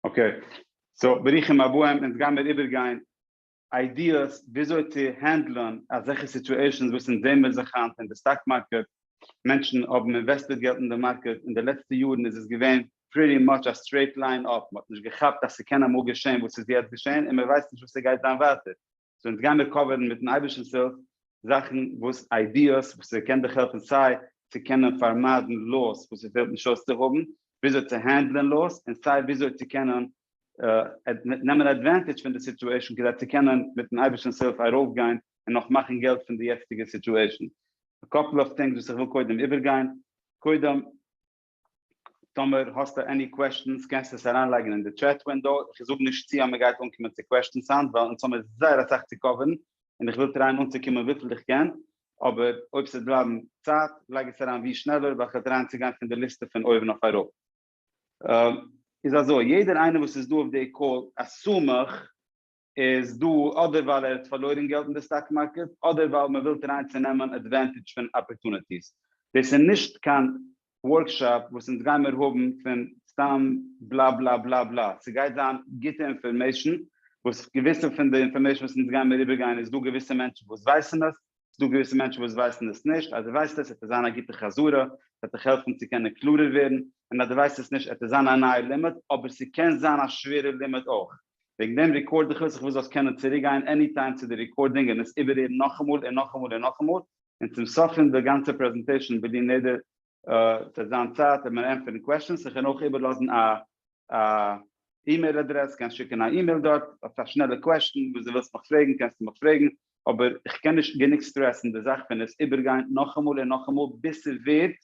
אקעי, סאו ברוכים הבאים, אונז גיימיר איבערגיין איידיעס וויאזוי צו הענדלען אזעלכע סיטועשאנס וואס אונז זעהן מיר זיך היינט אין די סטאק מארקעט, מענטשן האבן אינוועסטעד געלט אין די מארקעט, אין די לעצטע יארן איז עס געווען פריטי מאטש א סטרעיט ליין אפ, מען האט נישט געכאפט אז ס'קען אמאל געשען וואס איז יעצט געשען, און מען ווייסט נישט וואס ס'גייט זיין ווייטער, סאו אונז גיימיר קאווערן מיטן אייבערשטנ'ס הילף זאכן וואס איידיעס וואס ס'קען דיך העלפן סיי צו קענען פארמיידן לאס וואס ס'פעלט נישט אויס צו האבן, וויאזוי צו הענדלען לאס, און סיי וויאזוי צו קענען נעמען עדווענטעדזש פון די סיטועשן כדי צו קענען מיטן אייבערשטנ'ס הילף ארויפגיין און נאך מאכן געלט פון די יעצטיגע סיטועשן. א קאפל אוו טינגס וואס איך וויל קודם איבערגיין. קודם. טאמער האסטו עני קוועשטענס קענסטו עס אריינלייגן אין די טשעט ווינדאו, איך זאג נישט צו אז מען גייט אנקומען צו קוועשטענס היינט ווייל אונז האמיר זייער אסאך צו קאווערן און איך וויל טרייען אנצוקומען וויפיל איך קען, אבער אויב ס'וועט בלייבן צייט לייג עס אריין ווי שנעלער ווייל כ'וועל טרייען צו גיין פון די ליסטע פון אויבן אויף אראפ. איז אזוי, יעדער איינער וואס איז דא אויף די קאל, א שמח. איז דא אדער ווייל ער האט פארלוירן געלט אין די סטאק מארקעט אדער ווייל מען וויל טרייען צו נעמען עדווענטעדזש פון אפערטוניטיס. דאס איז נישט קיין ווארקשאפ וואס אונז גיימער האבן פון סתם בלא בלא בלא בלא, ס'גייט זיין גוטע אינפארמעישן וואס געוויסע פון די אינפארמעישן וואס אונז גיימער איבערגיין איז דא געוויסע מענטשן וואס ווייסן עס, ס'איז דא געוויסע מענטשן וואס ווייסן עס נישט, אז דו ווייסט עס וועט עס זיין א גוטע חזרה, ס'וועט דיך העלפן צו קענען קלארער ווערן, און אז דו ווייסט עס נישט, עט עס זיין א נייער לימוד, אבער ס'קען זיין א שווערע לימוד אויך. וועגן דעם רעקארד איך עס איך וויל זאלסט קענען צוריק גיין עני טיים צו די רעקארדינג און עס איבערהערן נאכאמאל און נאכאמאל און נאכאמאל און צום סוף פון די גאנצע פרעזענטעישאן וויל אין יעדער צו זיין צייט און מען ענטפערן קוועשאנס איך קען אויך איבערלאזן א אימעיל אדרעס קענסט שיקן א אימעיל דארט האסט א שנעלע קוועשאן וואס די ווילסט מיך פרעגן קענסטו מיך פרעגן אבער איך קען נישט גענוג סטרעסן די זאך פון עס איבערגיין נאכאמאל און נאכאמאל ביז ס'ווערט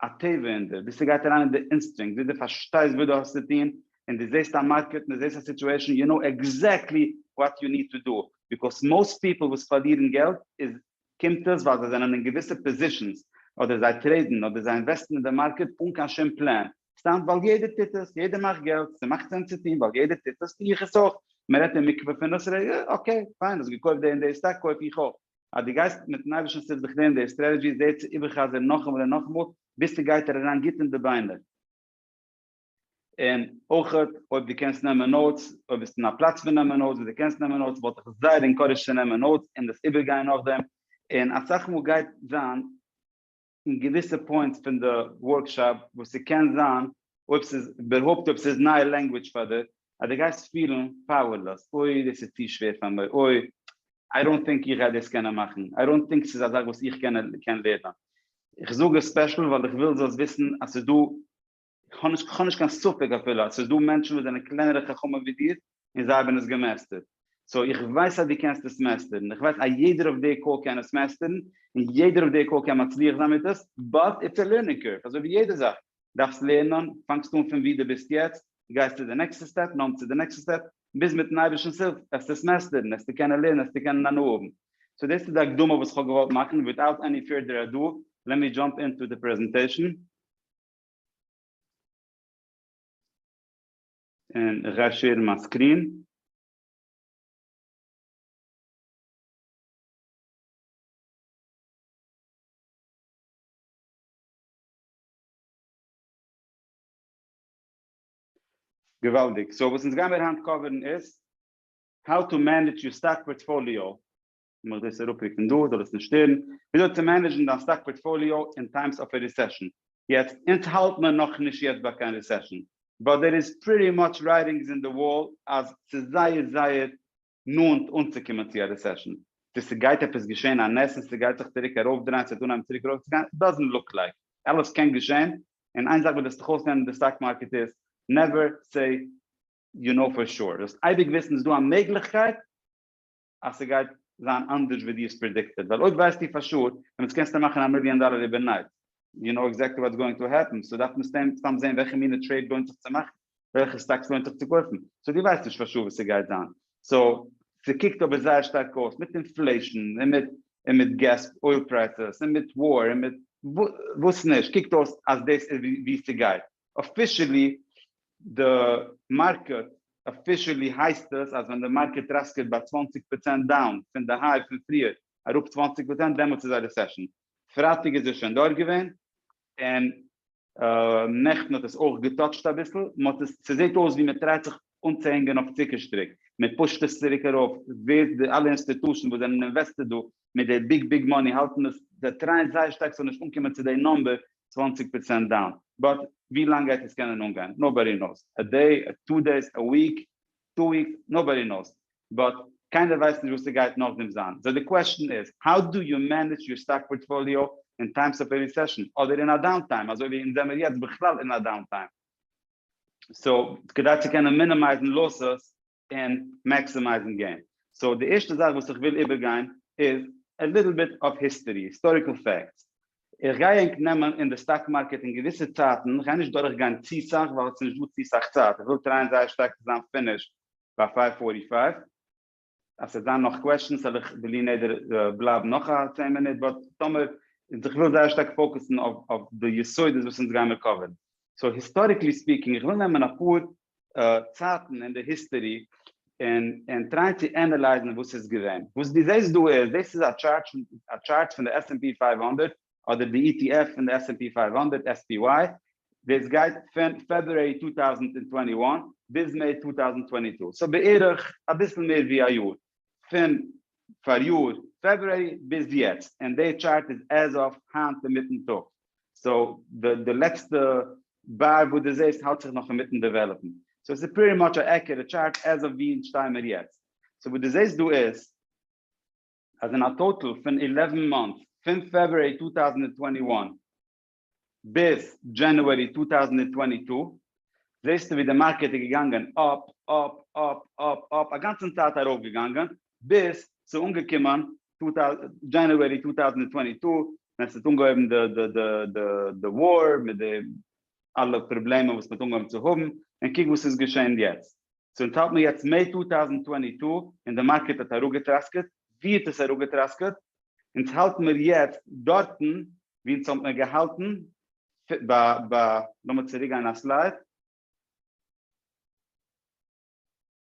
א טבע אין דיר, ביז ס'גייט אריין אין די אינסטרינקט, ביז דו פארשטייסט וואס דו האסט צו טון, און דו זעסט א מארקעט, און דו זעסט א סיטועשאן, יו קנאו עקזעקטלי וואט יו ניד טו דא, ביקאויס מאוסט פיפל וואס פארלירן געלט איז, קומט עס ווייל זיי זענען אין געוויסע פאזישאנס, אדער זיי טרעידן, אדער זיי אינוועסטן אין די מארקעט אן קיין שום פלען, סתם ווייל יעדער טוט עס, יעדער מאכט געלט, ס'מאכט סענס צו טון, ווייל יעדער טוט עס, טו איך עס אויך, מ'רעדט אין מקווה פון עס, רגע, אקעי, פיין, האסט געקויפט די און די סטאק, קויף איך אויך, אז דו גייסט מיטן אייבערשטנ'ס הילף זיך לערנען דער סטרעטעדזשי זי צו איבערחזר'ן נאכאמאל און נאכאמאל ביז ס'גייט ער אריין גוט אין די ביינער, און אויך אויב דו קענסט נעמען נאוטס, אויב ביסטו אין א פלאץ פון נעמען נאוטס ווי דו קענסט נעמען נאוטס וואלט איך זייער אינקארעדזשט צו נעמען נאוטס און דאס איבערגיין נאכדעם, און אסאך מאל גייט זיין. אין געוויסע פוינטס פון די ווארקשאפ וואס ס'קען זיין אויב ס'איז איבערהויפט אויב ס'איז נייע לענגוויטש פאר דיר אז דו גייסט פילן פאוערלעס אוי דאס איז צו שווער פאר מיר אוי איי דאנט טינק איך גיי דאס קענען מאכן איי דאנט טינק ס'איז א זאך וואס איך קען לערנען איך זאג עס ספעשל ווייל איך וויל זאלסט וויסן אז ס'איז דא כ'האב נישט קיין ספק אפילו אז ס'איז דא מענטשן וואס זענען קלענערע חכמים ווי דיר און זיי האבן עס געמעסטערט, סאו איך ווייס אז דו קענסט עס מעסטערן, איך ווייס אז יעדער אויף די קאל קען עס מעסטערן, און יעדער אויף די קאל קען מצליח זיין מיט עס, באט איטס א לערנינג קורף אזוי ווי יעדע זאך, דארפסט לערנען, פאנגסט אן פון ווי דו ביסט יעצט, גייסט צו די נעקסטע סטעפ, נאם צו די נעקסטע סטעפ, ביז מיטן אייבערשטנ'ס הילף וועסטו עס מעסטערן, וועסטו קענען לערנען, וועסטו קענען הנאה האבן. סאו דאס איז די הקדמה וואס כ'האב געוואלט מאכן, וויטאוט עני פירדער אדו, לעט מי דזשאמפ אינטו די פרעזענטעישן. און איך גיי שעירן מיין סקרין. געוואלדיג, סאו וואס אונז גיימיר היינט קאווערן איז, האו טו מענעדזש יור סטאק פארטפאליאו, קען איך דאס אראפרוקן דא זאל עס נישט שטערן, וויאזוי צו מענעדזשן דיין סטאק פארטפאליאו אין טיימס אוו א רעסעשן, יעצט אונז האלט מיר נאכנישט יעצט ביי קיין רעסעשן, באט דער איז פריטי מאטש רייטינגס אין די וואל אז ס'איז זייער זייער נאנט אנצוקומען צו א רעסעשן, צו ס'גייט עפעס געשען א נס און ס'גייט זיך צוריק ארויפדרייען ס'וועט אנהייבן צוריק ארויפצוגיין, איט דאזענט לוק לייק, אלעס קען געשען, און איין זאך וואס וועסט דיך אויסלערנען אין די סטאק מארקעט איז, נעווער סעי יו נאו פאר שור, זאלסט אייביג וויסן ס'איז דא א מעגליכקייט, אז ס'גייט זיין אנדערש ווי דו האסט פרעדיקטעד, ווייל אויב ווייסטו פאר שור דעמאלטס קענסטו מאכן א מיליאן דאלער איבערנייט, יו נאו עקזעקטלי וואטס גאוינג טו העפן, סאו דארף מען סתם סתם זעהן וועלכע מינע טרעיד לוינט זיך צו מאכן, וועלכע סטאקס לוינט זיך צו קויפן, סאו דו ווייסט נישט פאר שור וואס ס'גייט זיין, סאו ס'קוקט אבער זייער שטארק אויס מיט אינפלעישן און מיט און מיט געז אויל פרייסעס און מיט וואר און מיט וואס נישט, קוקט אויס אז דאס איז ווי ס'גייט אפישעלי, די מארקעט אפישעלי הייסט עס אז ווען די מארקעט ראסקעט ביי צוואַנציק פראצענט דאון פון די היי פון פריער אראפ צוואַנציק פראצענט דעמאלטס איז א רעסעשאן. פרייטאג איז עס שוין דארט געווען און נעכטן האט עס אויך געטאטשט אביסל, מען האט עס ס'זעט אויס ווי מען טרייט זיך אנצוהענגען אויף צוקער שטריק, מען פושט עס צוריק ארויף ווער די אלע אינסטיטושען וואס זענען אינוועסטעד דא מיט די ביג ביג מאני האלטן דאס זיי טרייען זייער שטארק ס'זאל נישט אנקומען צו די נאמבער צוואַנציק פראצענט דאון באט ווי לאנג גייט עס קענען אנגיין נאובאדי נאוס א דעי א טו דעיס א וויק טו וויקס נאובאדי נאוס באט קיינער ווייסט נישט וואס ס'גייט נאכדעם זיין סאו די קוועשאן איז האו דו יו מענעדזש יור סטאק פארטפאליאו אין טיימס אוו א ריסעשאן אדער אין א דאון טיים אזוי ווי אונז זעמער יעצט בכלל אין א דאון טיים סאו כדי צו קענען מינימייזן לאסעס און מעקסימייזן געים. סאו די ערשטע זאך וואס איך וויל איבערגיין איז א ליטל ביט אוו היסטערי, היסטאריקל פעקטס. איך גיי ענק נעמען אין די סטאק מארקעט אין געוויסע צייטן, איך גיי נישט דורכגיין צו סאך ווייל ס'נישט דא צו סאך צייט, איך וויל טרייען זייער שטארק צו זיין פינישד ביי פייוו פארטי פייוו. אז ס'וועט זיין נאך קוועשטענס וועל איך בלי נדר בלייבן נאך א צען מינוט, באט טאמער, איך וויל זייער שטארק פאוקעסן אויף די יסודות וואס אונז גיימער קאווערן. סאו היסטאריקלי ספיקינג, איך וויל נעמען אפאר צייטן אין די היסטארי און און טרייען צו ענעלייזן וואס איז געווען. וואס דו זעסט דא איז, דאס איז א טשארט א טשארט פון די עס ענד פי פֿינף הונדערט אדער די אי טי עף פון די עס ענד פי פֿינף הונדערט, SPY, דאס גייט פון פעברוארי צוויי טויזנט און צוואַנציק און ביז מעי צוויי טויזנט און צוואַנציק צו, סאו בערך אביסל מער ווי א יאר, פון פאריאר פעברוארי ביז יעצט, און די טשארט איז עז אוו היינט אינמיטן טאג. סאו די לעצטע באר וואס דו זעסט האלט זיך נאך אינמיטן דעוועלאפן, סאו עס איז פריטי מאטש א עקוראט טשארט עז אוו ווי אונז שטייען מיר יעצט, סאו וואס דו זעסט דא איז אז אין א טאטאל פון עלעווען מאנטס פון פעברואר צוויי טויזנט און צוואַנציק און איין ביז דזשענעווארי צוויי טויזנט און צוואַנציק טו זעסטו ווי די מארקעט איז געגאנגען אפ אפ אפ אפ אפ א גאנצן צייט ארויף געגאנגען ביז ס'איז אנגעקומען דזשענעווערי צוויי טויזנט צוואַנציק טו ווען ס'האט אנגעהויבן די וואר מיט די אלע פראבלעמען וואס מ'האט אנגעהויבן צו האבן און קוק וואס איז געשען יעצט. סאו אונז האלט מיר יעצט מעי צוויי טויזנט צוואַנציק טו און די מארקעט האט אראפגעטראסקעט ווי האט עס אראפגעטראסקעט? אונז האלט מיר יעצט דארטן ווי אונז האט מיר געהאלטן ביי לאמיר צוריקגיין א סלייד.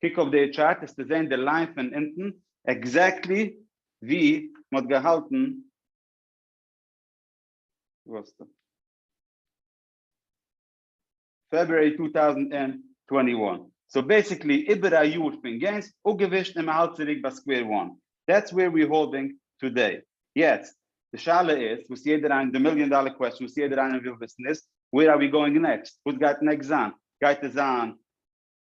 קוק אויף די טשארט העסטו זעהן די ליין פון אונטן עקזעקטלי ווי מען האט געהאלטן פעברואר טו טאוזנט ענד טווענטי וואן, סאו בעסיקלי איבער א יאר פון געינס אפגעווישט און מען האלט צוריק ביי סקווער וואן, דעטס ווער ווי האלדינג טודעי, יעצט די שאלה איז וואס יעדער איינער די מיליאן דאלער קוועסטשן וואס יעדער איינער וויל וויסן איז ווער אר ווי גאוינג נעקסט, וואס גייט נעקסט זיין, גייט עס זיין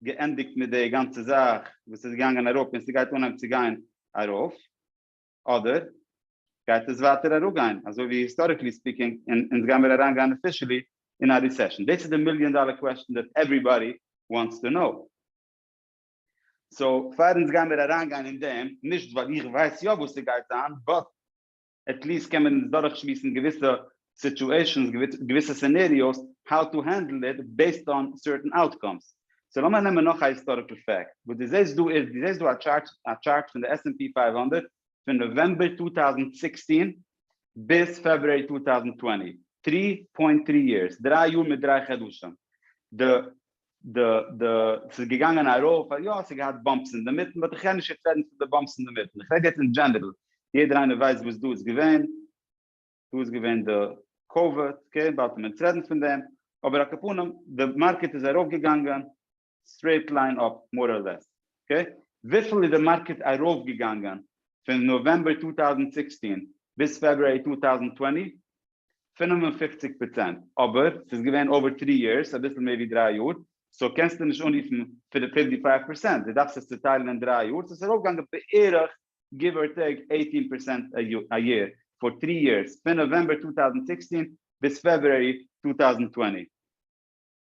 געענדיגט מיט די גאנצע זאך וואס איז געגאנגען אראפ און ס'גייט אנהייבן צו גיין ארויף אדער גייט עס ווייטער אראפגיין אזוי ווי היסטאריקלי ספיקינג און אונז גיימיר אריינגיין אפישעלי אין א ריסעשן? דאס איז די מיליאן דאלער קוועסטשן דעט עווריבאדי וואנטס טו נאו. סאו פאר אונז גיימיר אריינגיין אין דעם, נישט ווייל איך ווייס יא וואס ס'גייט זיין, באט עטליסט קען מען עס דורכשמועסן געוויסע סיטועשענס געוויסע סינעריאוס האו טו הענדל איט בעיסד אן סערטען אוטקאמס. סאו לאמיר נעמען נאך א היסטאריקל פעקט וואס דו זעסט דא איז דו זעסט דא א טשארט א טשארט פון די עס ענד פי פֿינף הונדערט פון נאוועמבער צוויי טויזנט זעכצן ביז פעברואר צוויי טויזנט צוואַנציק, טרי פוינט טרי יערס, דריי יאר מיט דריי חדשים, די די די ס'איז געגאנגען ארויף א יא ס'האט געהאט באמפס אינדערמיטן באט איך קען נישט יעצט רעדן פון די באמפס אינדערמיטן איך רעד יעצט אין דזשענערל יעדער איינער ווייסט וואס דא איז געווען דא איז געווען די קאוויד אקעי באלד ווען אונז רעדן פון דעם אבער אקעפנים די מארקעט איז ארויף געגאנגען סטרעיט ליין אפ מאר אר לעס אקעי וויפיל איז די מארקעט ארויף געגאנגען פון נאוועמבער צוויי טויזנט זיבעצן ביז פעברואר צוויי טויזנט צוואַנציק פֿינף און פֿופֿציק פראצענט, אבער ס'איז געווען אווער טרי יערס, אביסל מער ווי דרײַ יאר, סאו קענסטו נישט אנרופן פֿינף און פֿופֿציק פראצענט, דו דארפסט עס צוטיילן אין דרײַ יאר, סאו ס'איז ארויפגעגאנגען בערך גיוו אר טעיק עיטין פערסענט א יער פאר טרי יערס, פון נאוועמבער צוויי טויזנט זעכצן ביז פעברואר צוויי טויזנט צוואַנציק.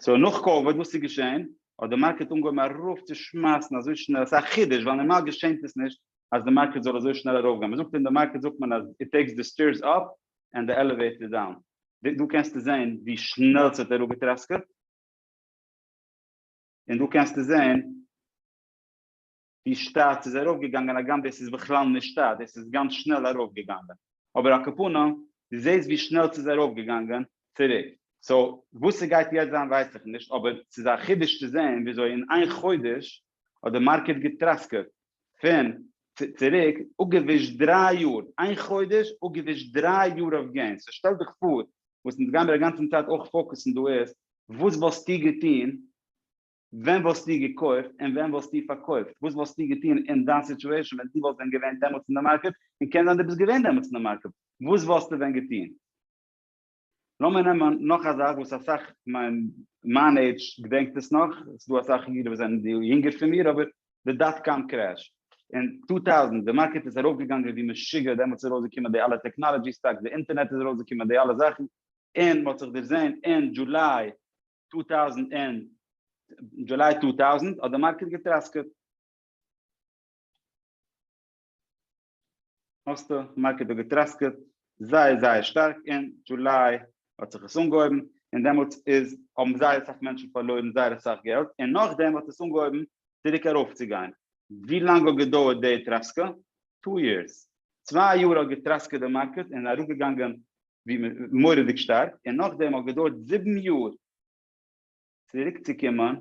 סאו נאך קאוויד וואס איז געשען? האט די מארקעט אנגעהויבן ארויף צו שמייסן אזוי שנעל, ס'איז א חידוש ווייל נארמאל געשענט עס נישט אז די מארקעט זאל אזוי שנעל ארויף גיין, מ'זאגט אין די מארקעט זאגט מען אז איט טעיקס די סטעירס אפ ענד די עלעוועיטער דאון, דא קענסטו זען ווי שנעל ס'האט אראפגעטראסקעט, און דא קענסטו זען. די שטאט איז ארויף געגאנגען הגם דאס איז בכלל נישט שטאט דאס איז גאנץ שנעל ארויף געגאנגען אבער אקעפאנא די זעהסט ווי שנעל סאיז ארויף געגאנגען צוריק סאו וואס סגייט יעצט זיין ווייס איך נישט אבער סאיז א חידוש צו זעהן וויאזוי אין איין חודש האט די מארקעט געטראסקעט פון צוריק אפגעווישט דרײַ יאר איין חודש אפגעווישט דרײַ יאר אויף געינס סאו שטעל דיך פאר וואס אונז גיימיר אגאנצן צייט אויך פאוקוסן דא איז וואס וואלסטו געטון ווען וואלסטו געקויפט און ווען וואלסטו פארקויפט? וואס וואלסטו געטון אין דיין סיטועשאן ווען דו וואלסט ווען געווען דעמאלטס אין די מארקעט, און קען זיין דו ביסט געווען דעמאלטס אין די מארקעט, וואס וואלסטו ווען געטון? לאמיר נעמען נאך א זאך וואס אסאך מיין מיין עידזש געדענקט עס נאך, עס איז דא אסאך אידן וואס זענען יונגער פון מיר, אבער די דאט קאם קרעש אין טו טאוזענט, די מארקעט איז ארויף געגאנגען ווי משוגע, דעמאלטס איז ארויס געקומען די אלע טעקנאלעדזשי סטאקס, די אינטערנעט איז ארויס געקומען, די אלע זאכן, און מען האט זיך דערזען אין דזשוליי טוטאוזענט ענד דזשוליי טוטאוזענט האט די מארקעט געטראסקעט. האסט די מארקעט האט געטראסקעט זייער זייער שטארק אין דזשוליי האט זיך עס אנגעהויבן און דעמאלטס איז האבן זייער אסאך מענטשן פארלוירן זייער אסאך געלט און נאכדעם האט עס אנגעהויבן צוריק ארויפצוגיין. ווי לאנג האט געדויערט די טראסקע? טו יערס. צוויי יאר האט געטראסקעט די מארקעט און אראפגעגאנגען ווי מען מורא'דיג שטארק, און נאכדעם האט געדויערט זיבן יאר צוריק צו קומען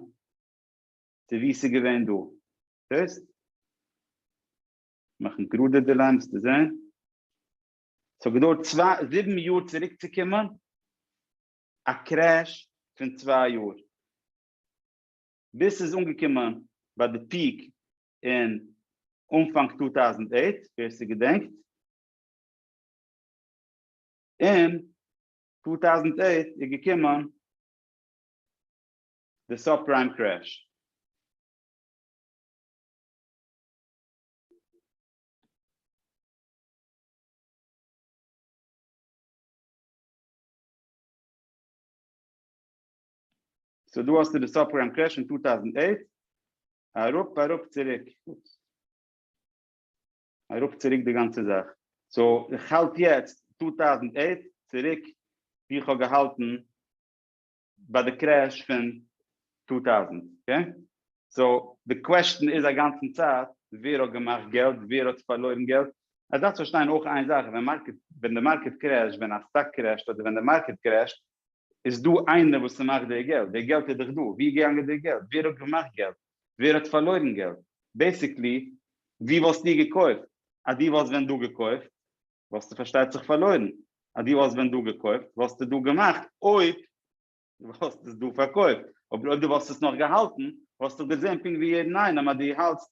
צו ווי ס'איז געווען דא, זעסט? מאכן גראדע די ליין וועסטו זען, ס'האט געדויערט צוויי זיבן יאר צוריק צו קומען, א קרעש פון צוויי יאר, ביז ס'איז אנגעקומען ביי די פיעק אין אנפאנג טו טאוזענד עיט, ווער ס'געדענקט. אין טו טאוזנט עיט איז געקומען די סאב פריים קרעש, סאו דא האסטו די סאב פריים קרעש אין טו טאוזנט עיט, אראפ אראפ צוריק. מען רוקט צוריק די גאנצע זאך, סאו איך האלט יעצט טו טאוזענט עיט צוריק ווי איך האב געהאלטן ביי די קרעש פון טו טאוזענט, אקעי? סאו די קוועשטען איז אגאנצן צייט ווער האט געמאכט געלט ווער האט פארלוירן געלט, עס דארפסט פארשטיין אויך איין זאך ווען מארקעט ווען די מארקעט קרעשט ווען א סטאק קרעשט אדער ווען די מארקעט קרעשט איז דא איינער וואס ס'מאכט די געלט די געלט איז דאך דא ווי איז געגאנגען די געלט ווער האט געמאכט געלט ווער האט פארלוירן געלט? בעסיקלי ווי וואלסטו געקויפט? אז דו וואלסט ווען דא געקויפט וואלסטו פארשטייט זיך פארלוירן, אז דו וואלסט ווען דא געקויפט וואלסטו דא געמאכט אויב דו וואלסט עס דא פארקויפט, אבער אויב דו וואלסט עס נאך געהאלטן וואלסטוך געזען פונקט ווי יעדן איינעם אז דו האלטסט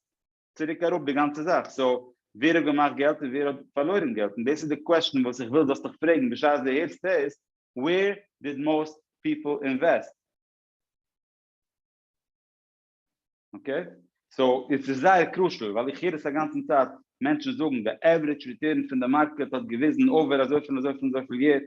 צוריק אראפ די גאנצע זאך, סאו ווער האט געמאכט געלט און ווער האט פארלוירן געלט? און דאס איז די קוועשן וואס איך וויל זאלסטוך פרעגן בשעת דו הערסט דאס, ווער דיד מאוסט פיפל אינוועסט? אקעי, סאו עס איז זייער קרושעל ווייל איך הער עס א גאנצן צייט מענטשן זאגן די עווערידזש ריטורן פון די מארקעט האט געוויזן אויבער אזויפיל און אזויפיל און אזויפיל יער,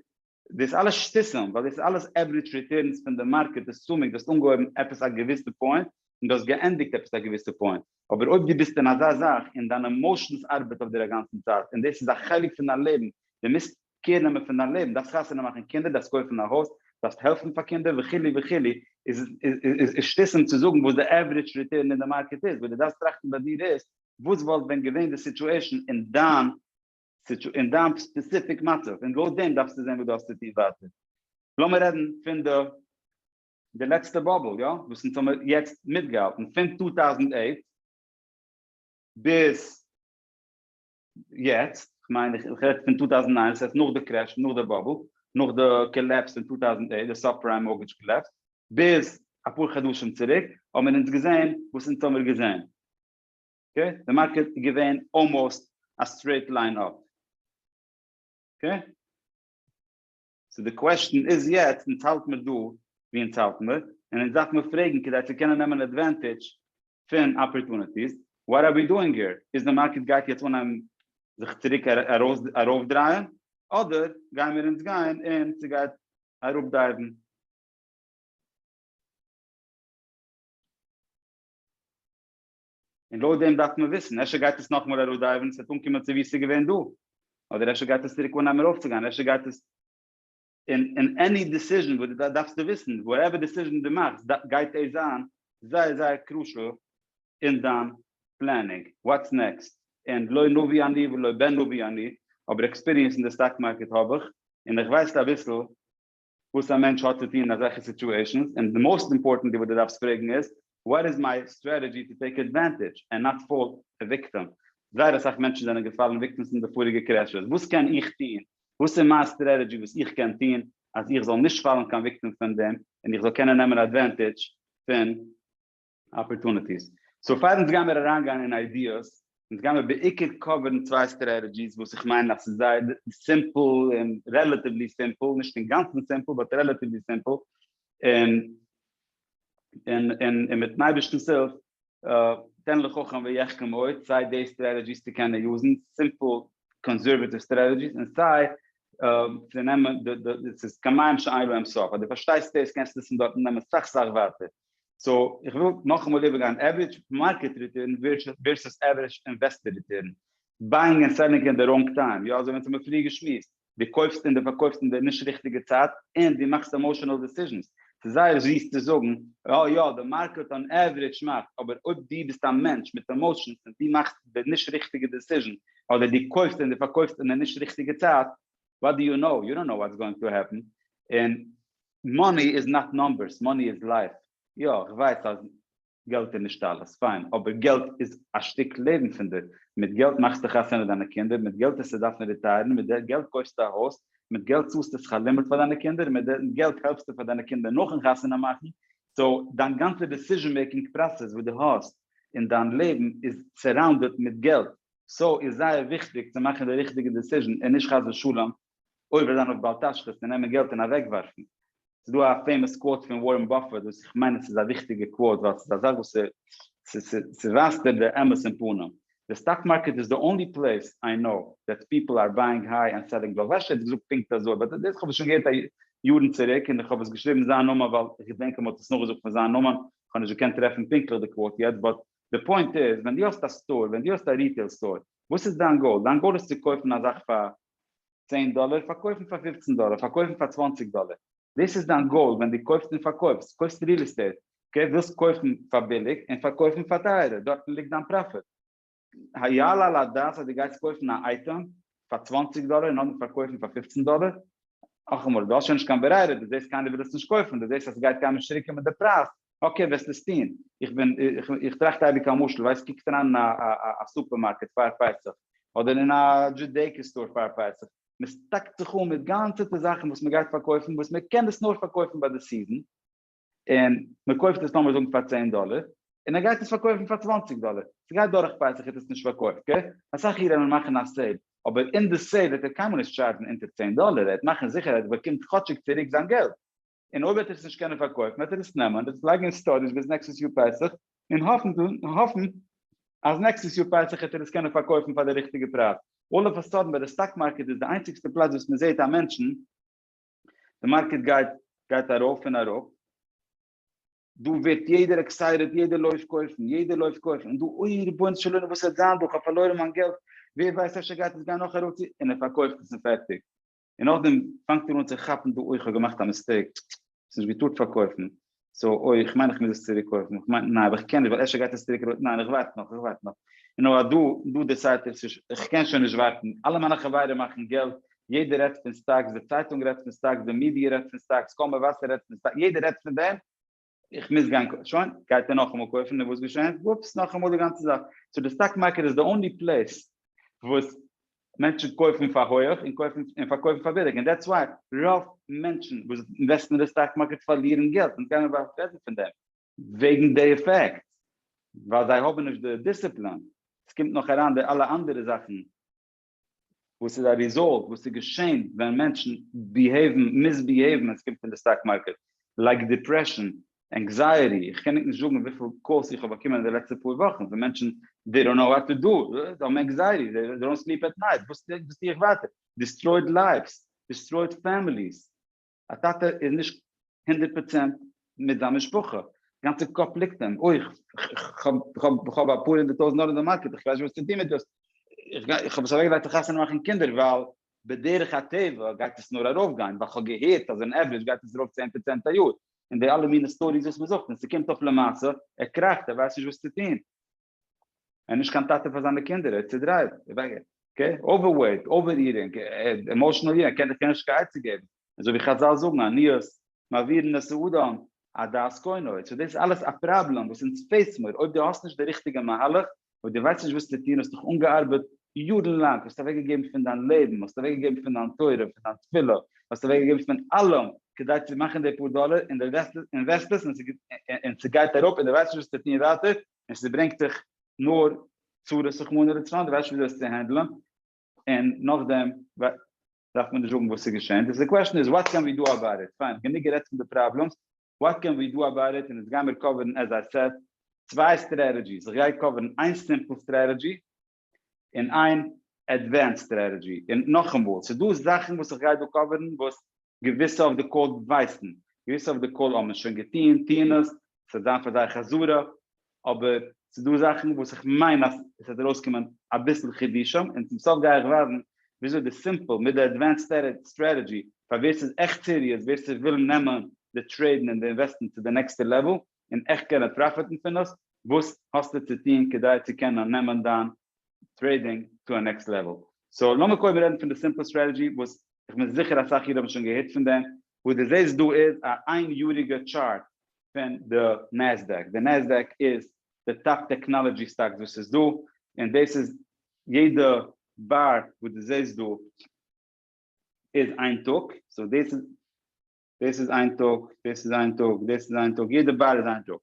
דאס אלעס שטותים ווייל דאס איז אלעס עווערידזש ריטורנס פון די מארקעט דאס צומיג, דו האסט אנגעהויבן עפעס א געוויסע פוינט און דו האסט געענדיגט עפעס א געוויסע פוינט, אבער אויב דו ביסט אין אזא זאך און דיין עמאושענס ארבעט אויף דיר אגאנצן צייט און דאס איז א חלק פון דיין לעבן, דו מוזט קעיר נעמען פון דיין לעבן, דארפסט חתונה מאכן קינדער, דארפסט קויפן א הויז, דארפסט העלפן פאר קינדער וכו' וכו', איז איז שטיסן צו זאגן וואס די עווריטש ריטערן אין די מארקעט איז, וואס דו דארפסט טראכטן ביי דיר איז, וואס וואלט ווען געווען די סיטואשען אין דיין אין דיין ספעסיפיק מצב, און לויט דעם דארפסטו זען וואס דו האסט צו טון ווייטער. לאמיר רעדן פון די די לעצטע באבל, יא, וואס אונז האמיר יעצט מיטגעהאלטן, פון טו טאוזנט אייט ביז יעצט, כ'מיין איך רעד פון טו טאוזענט ניין, ס'הייסט נאך די קרעש, נאך די באבל, נאך די קאלעפס אין טו טאוזענט עיט, די סאב-פריים מארטגעדזש קאלעפס, ביז אפאר חדשים צוריק האבן מיר אונז געזען וואס אונז האמיר געזען. אקעי? די מארקעט איז געווען אלמאסט א סטרעיט ליין אפ. אקעי? סאו די קוועשטען איז יעצט אונז האלט מיר דא ווי אונז האלט מיר, און אונז דארף מיר פרעגן כדי צו קענען נעמען אדווענטעדזש פון אפערטוניטיס, וואט אר ווי דואינג העיר? איז די מארקעט גייט יעצט אנהייבן זיך צוריק ארויפדרייען, אדער גייען מיר אונז גיין און ס'גייט אראפדייוון? און לויט דעם דארף מען וויסן, אפשר גייט עס נאכמאל אראפדייווען עס וועט אנקומען צו ווי עס איז געווען דא, אדער אפשר גייט עס צוריק אנהייבן ארויפצוגיין, אפשר גייט עס, און און עני דעסיזשן וואס דו דארפסטו וויסן, וואטעווער דעסיזשן דו מאכסט גייט עס זיין זייער זייער קרושעל אין דיין פלענינג, וואטס נעקסט, און לא נביא אני ולא בן נביא אני, אבער עקספיריענס אין די סטאק מארקעט האב איך, און איך ווייס אביסל וואס א מענטש האט צו טון אין אזעלכע סיטועשענס, און די מאוסט אימפארטענט וואס די דארפסט פרעגן איז, וואט איז מיי סטרעטעדזשי טו טעיק עדוואנטעדזש ענד נאט פאל א וויקטעם? זייער אסאך מענטשן זענען געפאלן וויקטעמס אין די פאריגע קרעשעס, וואס קען איך טון? וואס איז מיין סטרעטעדזשי וואס איך קען טון אז איך זאל נישט פאלן קיין וויקטעם פון דעם, און איך זאל קענען נעמען עדוואנטעדזש פון. אפערטוניטיס. סאו פאר אונז גיימיר אריינגיין אין איידיעס, אונז גיימיר בעיקר קאווערן צוויי סטרעטעדזשיס וואס איך מיין אז ס'איז זייער סימפל און רעלאטיוולי סימפל, נישט אינגאנצן סימפל באט רעלאטיוולי סימפל, און און און און מיטן אייבערשטנ'ס הילף תן לחכם ויחכם עוד, סיי די סטרעטעדזשיס צו קענען יוזן, סימפל קאנסערוואטיוו סטרעטעדזשיס, און סיי צו נעמען, ס'איז כמים שאין להם סוף, אז דו פארשטייסט דאס קענסטו עס פון דארטן נעמען סאך סאך ווייטער. סאו איך וויל נאכאמאל איבערגיין עוורידזש מארקעט ריטורן ווערסעס עוורידזש אינוועסטער ריטורן, בייאינג און סעללינג אין די ראנג טיים, יא אזוי ווי אונז האמיר פריער געשמועסט, דו קויפסט און דו פארקויפסט אין די נישט ריכטיגע צייט, און דו מאכסט עמאשענעל דעסיזשענס, ס'איז זייער זיס צו זאגן אה יא די מארקעט אן עוורידזש מאכט, אבער אויב דו ביסט א מענטש מיט עמאשענס און דו מאכסט די נישט ריכטיגע דעסיזשען, אדער דו קויפסט און דו פארקויפסט אין די נישט ריכטיגע צייט, וואט דו יו נאו, יו דאנט נאו וואטס גאוינג טו העפן, און מאני איז נאט נאמבערס, מאני איז לייף, יא איך ווייס אז געלט איז נישט אלעס, פיין, אבער געלט איז א שטיק לעבן פון דיר, מיט געלט מאכסטו חתונה דיינע קינדער, מיט געלט טוסטו דארפן ריטייערן, מיט די געלט קויפסטו א הויז, מיט געלט צאלסטו שכר לימוד פאר דיינע קינדער, און מיט די געלט העלפסטו פאר דיינע קינדער נאכן חתונה מאכן, סאו דיין גאנצע דיסיזשען מעיקינג פראסעס וואס דו האסט אין דיין לעבן איז סעראונדעד מיט געלט, סאו איז זייער וויכטיג צו מאכן די ריכטיגע דיסיזשען און נישט חס ושלום עובר זיין אויף בל תשחית און נעמען געלט און אוועקווארפן. ס'איז דא א פעימאס קוואוט פון ווארען באפעט וואס איך מיין עס איז א וויכטיגע קוואוט ווייל ס'איז א זאך וואס ס'ווייזט דיר די אמת אין פנים. די סטאק מארקעט איז די אנלי פלעיס איי קנאו דעט פיפל אר בייאינג היי אנד סעלינג לאו. רש י האט געזאגט פונקט אזוי באט דאס האב איך שוין געהערט יארן צוריק און איך האב עס געשריבן זיין נאמען ווייל איך געדענק אז מ'האט עס נאכגעזאגט פון זיין נאמען. כ'האב נישט געקענט טרעפן פונקטליך די קוואוט יעצט באט די פוינט איז ווען דו האסט א סטאר ווען דו האסט א ריטעיל סטאר וואס איז דיין גאול? דיין גאול איז צו קויפן א זאך פאר צען דאלער, פארקויפן פאר פופצן דאלער, פארקויפן פאר צוואנציג דאלער, דאס איז דיין גאול ווען דו קויפסט און פארקויפסט, קויפסט ריעל עסטעיט, אקעי, ווילסט קויפן פאר ביליג און פארקויפן פאר טייערער, דארטן ליגט דיין פראפיט. היעלה על הדעת אז דו גייסט קויפן א אייטעם פאר צוואנציג דאלער און נאכדעם פארקויפן פאר פופצן דאלער? נאכאמאל, דו האסט שוין נישט קיין ברירה, דו זעסט קיינער וויל עס נישט קויפן, דו זעסט אז ס'גייט קיינמאל נישט צוריקקומען די פרייז, אקעי וועסט עס טוהן, איך בין איך טראכט אייביג א משל, ווייסט קוקט אריין אין א סופערמארקעט פאר פסח, אדער אין א דזשודעיקא סטאר פאר פסח, מען סטאקט זיך אן מיט גאנצעטע זאכן וואס מען גייט פארקויפן וואס מען קען עס נאר פארקויפן ביי די סיזען, און מען קויפט עס לאמיר זאגן פאר צען דאלער, און ער גייט עס פארקויפן פאר צוואנציג דאלער, ס'גייט דורך פסח האט ער עס נישט פארקויפט, גערעכט? אסאך אידן וועלן מאכן א סעיל, אבער אין די סעיל וועט ער קיינמאל נישט טשארדזשן אונטער צען דאלער, ער וועט מאכן זיכער אז ער באקומט כאטשיג צוריק זיין געלט, און אויב וועט ער עס נישט קענען פארקויפן וועט ער עס נעמען וועט עס לייגן אין סטארעזש ביז נעקסטעס יאר פסח און האפן אז נעקסטעס יאר פסח וועט ער עס קענען פארקויפן פאר די ריכטיגע פרייז, אלל אף א סאדען ביי די סטאק מארקעט איז די איינציגסטע פלאץ וואס מען זעט א מענטשן די מארקעט גייט גייט ארויף און אראפ, דא ווערט יעדער עקסייטעד יעדער לויפט קויפן יעדער לויפט קויפן און דא אוי רבונו של עולם וואס וועט זיין דא כ'האב פארלוירן מיין געלט ווער ווייסט אפשר גייט עס גיין נאך ארויף צו און ער פארקויפט עס און פערטיג. און נאכדעם פאנגט ער אן צו כאפן דא אוי כ'האב געמאכט א מיסטעיק, ס'איז נישט געטארט פארקויפן, סאו אוי איך מיין איך מוז עס צוריק קויפן, איך מיין ניין אבער איך קען נישט ווייל אפשר גייט עס צוריק ארויף, ניין איך ווארט נאך איך ווארט נאך, און נאר אז דא דא דעסיידט ער ס'איז איך קען שוין נישט ווארטן, אלע מיינע חברים מאכן געלט, יעדער רעדט פון סטאקס, די צייטונג רעדט פון סטאקס, די מידיע רעדט פון סטאקס, קול מבשר רעדט פון סטאקס, יעדער רעדט פון דעם, איך מוז גיין קויפן, שוין, גייט ער נאכאמאל קויפן, און וואס געשעהן? וואופס, נאכאמאל די גאנצע זאך. סאו די סטאק מארקעט איז די אנלי פלעיס וואס מענטשן קויפן פאר הויעך און קויפן און פארקויפן פאר ביליג, און דעטס וויי רוב מענטשן וואס אינוועסטן אין די סטאק מארקעט פארלירן געלט, אונז גיימיר באלד רעדן פון דעם. וועגן די עפעקט, ווייל זיי האבן נישט די דיסציפלין, עס קומט נאך אריין די אלע אנדערע זאכן. וואס איז א ריזאלט וואס איז געשען ווען מענטשן ביהעיוון מיסביהעיוון ווען סקומט פון די סטאק מארקעט לייק דיפרעשאן ענקזייעטי איך קען ניט נישט זאגן וויפיל קאלס איך האב באקומען אין די לעצטע פאר וואכן פון מענטשן דעי דאנט נאו וואט טו דא זיי האבן ענקזייעטי זיי דאנט סליפ עט נייט וואס טו איך ווייטער דיסטרויד לייווס דיסטרויד פעמיליס א טאטע איז נישט הונדערט פראצענט מיט זיין משפחה, גאנצע קאפ ליגט אים, אוי כ'האב אפאר הונדערט טויזנט דאלער אין די מארקעט איך ווייס נישט וואס צו טון מיט דאס, איך האב עס אוועקגעלייגט צו חתונה מאכן קינדער ווייל בדרך הטבע גייט עס נאר ארויפגיין, ווייל כ'האב געהערט אז אין עוורידזש גייט עס ארויף צען פראצענט א יאר, און די אלע מיני סטאריס וואס מ'זאגט, און ס'קומט אויף למעשה, ער קראכט, ער ווייסט נישט וואס צו טון. ער איז נישט קיין טאטע פאר זיינע קינדער, ער איז צודרייט, אקעי, אווערוועיט, אווער-איטינג, עמאושענעל איטינג, ער קען דיר קיינמאל נישט קיין עצה געבן, אזוי ווי חזל זאגן, עניות מעבירין את האדם עד דעת קונו, סאו דאס איז אלעס א פראבלעם וואס אונז פעיס מיר, אויב דו האסט נישט די ריכטיגע מהלך, אויב דו ווייסט נישט וואס צו טון, האסט דיך אנגעארבעט יארן לאנג, האסט אוועקגעגעבן פון דיין לעבן, האסט אוועקגעגעבן פון דיין תורה, פון דיין תפילה, האסט אוועקגעגעבן פון אלעם כדי צו מאכן די פאר דאלער, און דו אינוועסטסט עס און ס'גייט אראפ און דו ווייסט נישט וואס צו טון ווייטער, און ס'ברענגט דיך נאר צרות רחמנא לצלן, דו ווייסט נישט וויאזוי עס צו הענדלען, און נאכדעם דארף מען נישט זאגן וואס איז געשען, די קוועשן איז וואט קען ווי דא אבאוט איט, פיין גענוג גערעדט פון די פראבלעמס, וואט קען ווי דא אבאוט איט, און יעצט גיימיר קאווערן עז איי סעד צוויי סטרעטעדזשיס, איך גיי קאווערן איין סימפל סטרעטעדזשי, און איין עדווענסד סטרעטעדזשי, און נאכאמאל, ס'איז דא זאכן וואס איך גיי דא קאווערן וואס געוויסע אויף די קאל ווייסן, געוויסע אויף די קאל האבן עס שוין געטון, טוען עס, ס'וועט זיין פאר זיי חזרה, אבער ס'איז דא זאכן וואס איך מיין אז עס וועט ארויסקומען אביסל חידושים, און צום סוף גיי איך ווייזן וויאזוי די סימפל מיט די עדווענסד סטרעטעדזשי, פאר ווער ס'איז עכט סיריעס, ווער ס'וויל נעמען די טרעידן און די אינוועסטן צו די נעקסטע לעוועל, און עכט קענען פראפיטן פון עס, וואס האסטו צו טון כדי צו קענען נעמען דיין טרעידינג טו א נעקסט לעוועל? סאו לאמיר קודם רעדן פון די סימפל סטרעטעגי וואס כ'בין זיכער אסאך אידן האבן שוין געהערט פון דעם, וואס דו זעסט דא איז א איין יאריגע טשארט פון די נעסדעק, די נעסדעק איז די טאפ טעקנאלעדזשי סטאקס וואס איז דא, און דאס איז יעדע באר וואס דו זעסט דא איז איין טאג, סאו דאס איז. דאס איז איין טאג, דאס איז איין טאג, דאס איז איין טאג, יעדע באר איז איין טאג.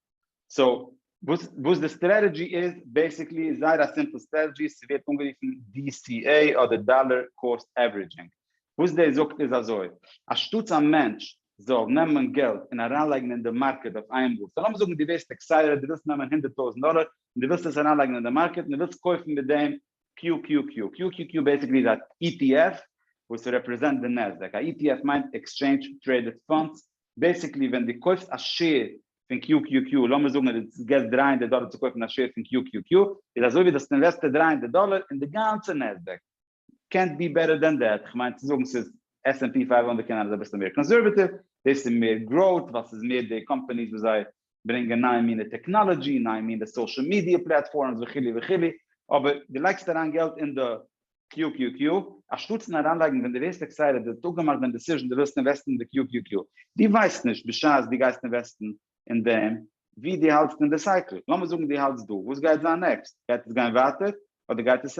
סאו, וואס וואס די סטרעטעדזשי איז, בעיסיקלי איז זייער א סימפל סטרעטעדזשי, ס'ווערט אנגערופן DCA אדער דאלער קאסט עוורידזשינג. וואס דאס זאגט איז אזוי, אנשטאטס א מענטש זאל נעמען געלט און אריינלייגן אין די מארקעט אויף איינמאל, סאו לאמיר זאגן דו ווערסט עקסייטעד, דו ווילסט נעמען הונדערט טויזנט דאלער און דו ווילסט עס אריינלייגן אין די מארקעט און דו ווילסט קויפן מיט דעם קיו קיו קיו, קיו קיו קיו בעסיקלי איז א אי טי עף וואס רעפרעזענט די נעסדעק, א אי טי עף מיינט עקסטשעינדזש טרעידעד פאנדס, בעסיקלי ווען דו קויפסט א שעיר פון קיו קיו קיו, לאמיר זאגן אז דו געסט דרײַ הונדערט דאלער צו קויפן א שעיר פון קיו קיו קיו, איז אזוי ווי דאס אינוועסטער דרײַ הונדערט דאלער אין די גאנצע נעסדעק, קענט בי בעטער דען דעט, כ'מיין צו זאגן ס'איז עס ענד פי פייוו הונדערט קען זיין איז אביסל מער קאנסערוועטיוו, דאס איז מער גראוט ווייל ס'איז מער די קאמפאניס וואס זיי ברענגען נייע מינע טעקנאלעדזשי, נייע מינע סאושעל מידיע פלעטפארמס וכו' וכו', אבער דו לייגסט אריין געלט אין די קיו קיו קיו אנשטאטס אין אריינלייגן ווען דו ווערסט עקסייטעד, דו האסט דאך געמאכט דיין דעסיזשן דו ווילסט אינוועסטן אין די קיו קיו קיו, דו ווייסט נישט בשעת דו גייסט אינוועסטן אין דעם וואו דו האלטסט אין די סייקל, לאמיר זאגן דו האלטסט דא, וואס גייט זיין נעקסט? גייט עס גיין ווייטער אדער גייט עס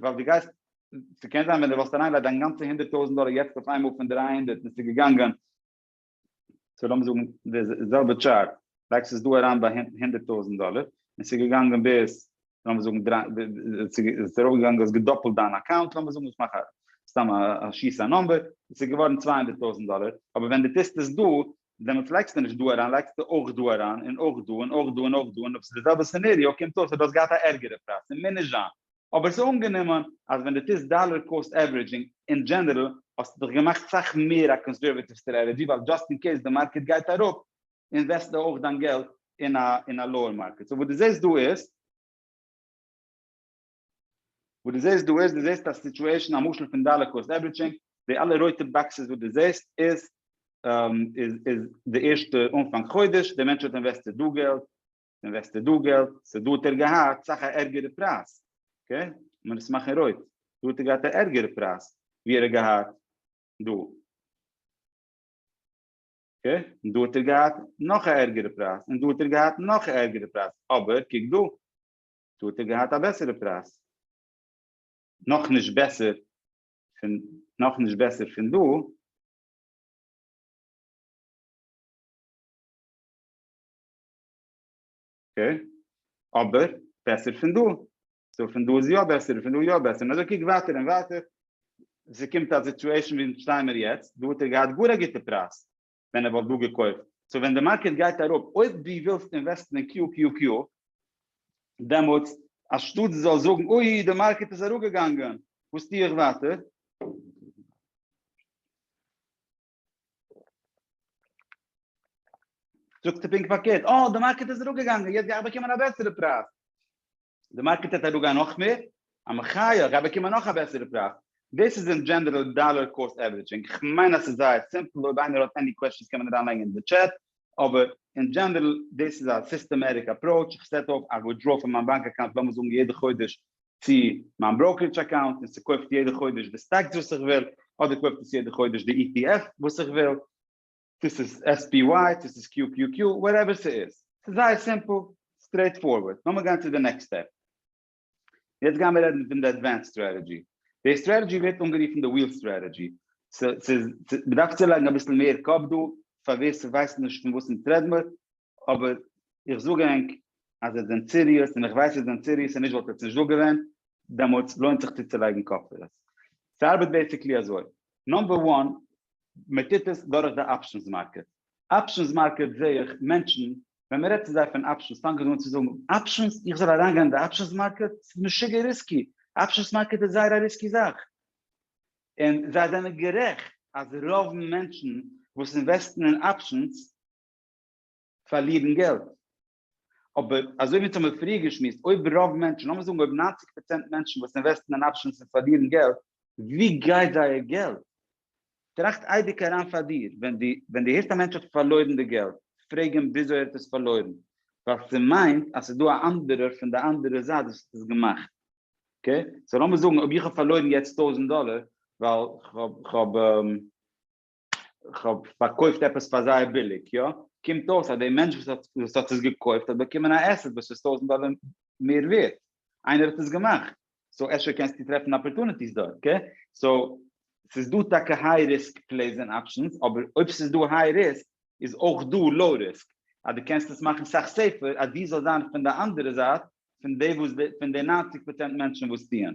ווייל דו גייסט, ס'קען זיין ווען דו וואלסט אריינגעלייגט דיין גאנצע הונדערט טויזנט דאלער יעצט אויף איינמאל פון דרײַ הונדערט און ס'איז געגאנגען, סאו לאמיר זאגן די זעלבע טשארט, לייגסט עס דא אריין ביי הונדערט טויזנט דאלער און ס'איז געגאנגען ביז, לאמיר זאגן דרײַ, ס'איז ארויפגעגאנגען, האסט געדאפלט דיין אקאונט, לאמיר זאגן, איך מאך א, סתם א, שיס א נומבער, ס'איז געווארן צוויי הונדערט טויזנט דאלער, אבער ווען דו טוסט עס דא, דעמאלטס לייגסטו נישט דא אריין לייגסטו אויך דא אריין און אויך דא און אויך דא און אויך דא און אויב ס'איז די זעלבע סינעריאו קומט אויס אז דו האסט געהאט א ערגערע פרייז ס'מוז נישט זיין אבער ס'איז אנגענומען אז ווען דו טוסט דאלער קאסט עווערידזשינג אין דזשענערל האסטו דאך געמאכט סאך מער א קאנסערוועטיוו סטרעטעדזשי ווייל דזשאסט אין קעיס די מארקעט גייט אראפ אינוועסטסטו אויך דיין געלט אין א אין א לאוער מארקעט סאו וואס דו זעסט דא איז וואס דו זעסט דא איז דו זעסט א סיטועשן א משל פון דאלער קאסט עווערידזשינג, די אלע רויטע באקסעס וואס דו זעסט איז איז די ערשטע אנפאנג חודש, די מענטש האט אינוועסטעד דא געלט, אינוועסטעד דא געלט, סאו דא האט ער געהאט סאך א ערגערע פרייז, אקעי? לאמיר עס מאכן רויט, דא האט ער געהאט א ערגערע פרייז ווי ער האט געהאט דא, אקעי? און דא האט ער געהאט נאך א ערגערע פרייז, און דא האט ער געהאט נאך א ערגערע פרייז, אבער קוק דא, דא האט ער געהאט א בעסערע פרייז. נאכנישט בעסער פון נאכנישט בעסער פון דא. אקעי, אבער בעסער פון דא. סאו פון דא איז יא בעסער און פון דא יא בעסער. אזוי קוק ווייטער און ווייטער. ס'קומט א סיטועשן ווי שטיימער יעצט. דא האט ער געהאט גאר א גוטע פרייז. ווען ער וואלט דא געקויפט. סאו ווען די מארקעט גייט אראפ, אויב דו ווילסט אינוועסטן אין QQQ, דעמאלטס אנשטאט דו זאלסט זאגן אוי די מארקעט איז אראפגעגאנגען, וואס טו איך ווייטער? זאגסטו פונקט פארקערט, אה די מארקעט איז אראפגעגאנגען, יעצט גיי איך באקומען א בעסערע פרייז. די מארקעט העט אראפגיין נאך מער? א מחיה, כ'גיי באקומען נאך א בעסערע פרייז. דאס איז אין דזשענעראל דאלאר קאסט עווערידזשינג. כ'מיין אז ס'איז זייער סימפל, אויב איינער האט עני קוועשאנס קען מען אריינלייגן אין די טשעט, אבער אין דזשענעראל דאס איז א סיסטעמעטיק אפראוטש, איך סעט אויף א ווידראל פון מיין באנק אקאונט לאמיר זאגן יעדע חודש צו מיין בראוקערידזש אקאונט און ס'קויפט יעדע חודש די סטאקס וואס איך וויל, אדער קויפט עס יעדע חודש די ETF וואס איך וויל. צו ס'איז SPY, צו ס'איז QQQ, וואטעווער ס'איז. ס'איז זייער סימפל, סטרעיט פארווארד. לאמיר גיין צו די נעקסט סטעפ. יעצט גיימיר רעדן פון די עדווענסד סטרעטעדזשי. די סטרעטעדזשי ווערט אנגערופן די וויל סטרעטעדזשי. ס'איז, מ'דארף צולייגן אביסל מער קאפ דא, פאר ווער ס'ווייסט נישט פון וואס אונז רעדן מיר, אבער איך זאג ענק אז זיי זענען סיריעס און איך ווייס זיי זענען סיריעס און נישט וואלט עטס נישט דא געווען דעמאלטס לוינט זיך צוצולייגן קאפ פאר עס. ס'ארבעט בעסיקלי אזוי, נאמבער וואן מ'טוט עס דורך די אפשענס מארקעט, אפשענס מארקעט זעה איך מענטשן ווען מ'רעדט צו זיי פון אפשענס פאנגען זיי אן צו זאגן אפשענס? איך זאל אריינגיין אין די אפשענס מארקעט? ס'איז משוגע ריסקי, אפשענס מארקעט איז זייער א ריסקי זאך. און זיי זענען גערעכט אז רוב מענטשן וואס אינוועסטן אין אפשענס פארלירן געלט. אבער אזוי ווי אונז האמיר פריער געשמועסט, אויב רוב מענטשן, לאמיר זאגן אויב ניינציג פראצענט מענטשן וואס אינוועסטן אין אפשענס און פארלירן געלט, ווי גייט זייער געלט? טראכט אייביג אריין פאר דיר, ווען דו ווען דו הערסט א מענטש האט פארלוירן די געלט, פרעג אים וויאזוי ער האט עס פארלוירן, ווייל ס'מיינט אז ס'איז דא א אנדערער פון די אנדערע זייט וואס האט עס געמאכט. אקעי? סאו לאמיר זאגן אויב איך האב פארלוירן יעצט טויזנט דאלער ווייל כ'האב כ'האב. כ'האב פארקויפט עפעס פאר זייער ביליג, יא? קומט אויס אז דער מענטש וואס האט עס געקויפט האט באקומען א עסעט וואס איז טויזנט דאלער מער ווערט, איינער האט עס געמאכט, סאו אפשר קענסטו טרעפן אפערטוניטיס דארט, אקעי? סאו ס'איז דא טאקע היי ריסק פלעיס און אפשענס, אבער אויב ס'איז דא היי ריסק איז אויך דא לאו ריסק, אז דו קענסט עס מאכן סאך סעיפער אז דו זאלסט זיין פון די אנדערע זייט פון די וואס פון די נײַנציק פראצענט מענטשן וואס טוען.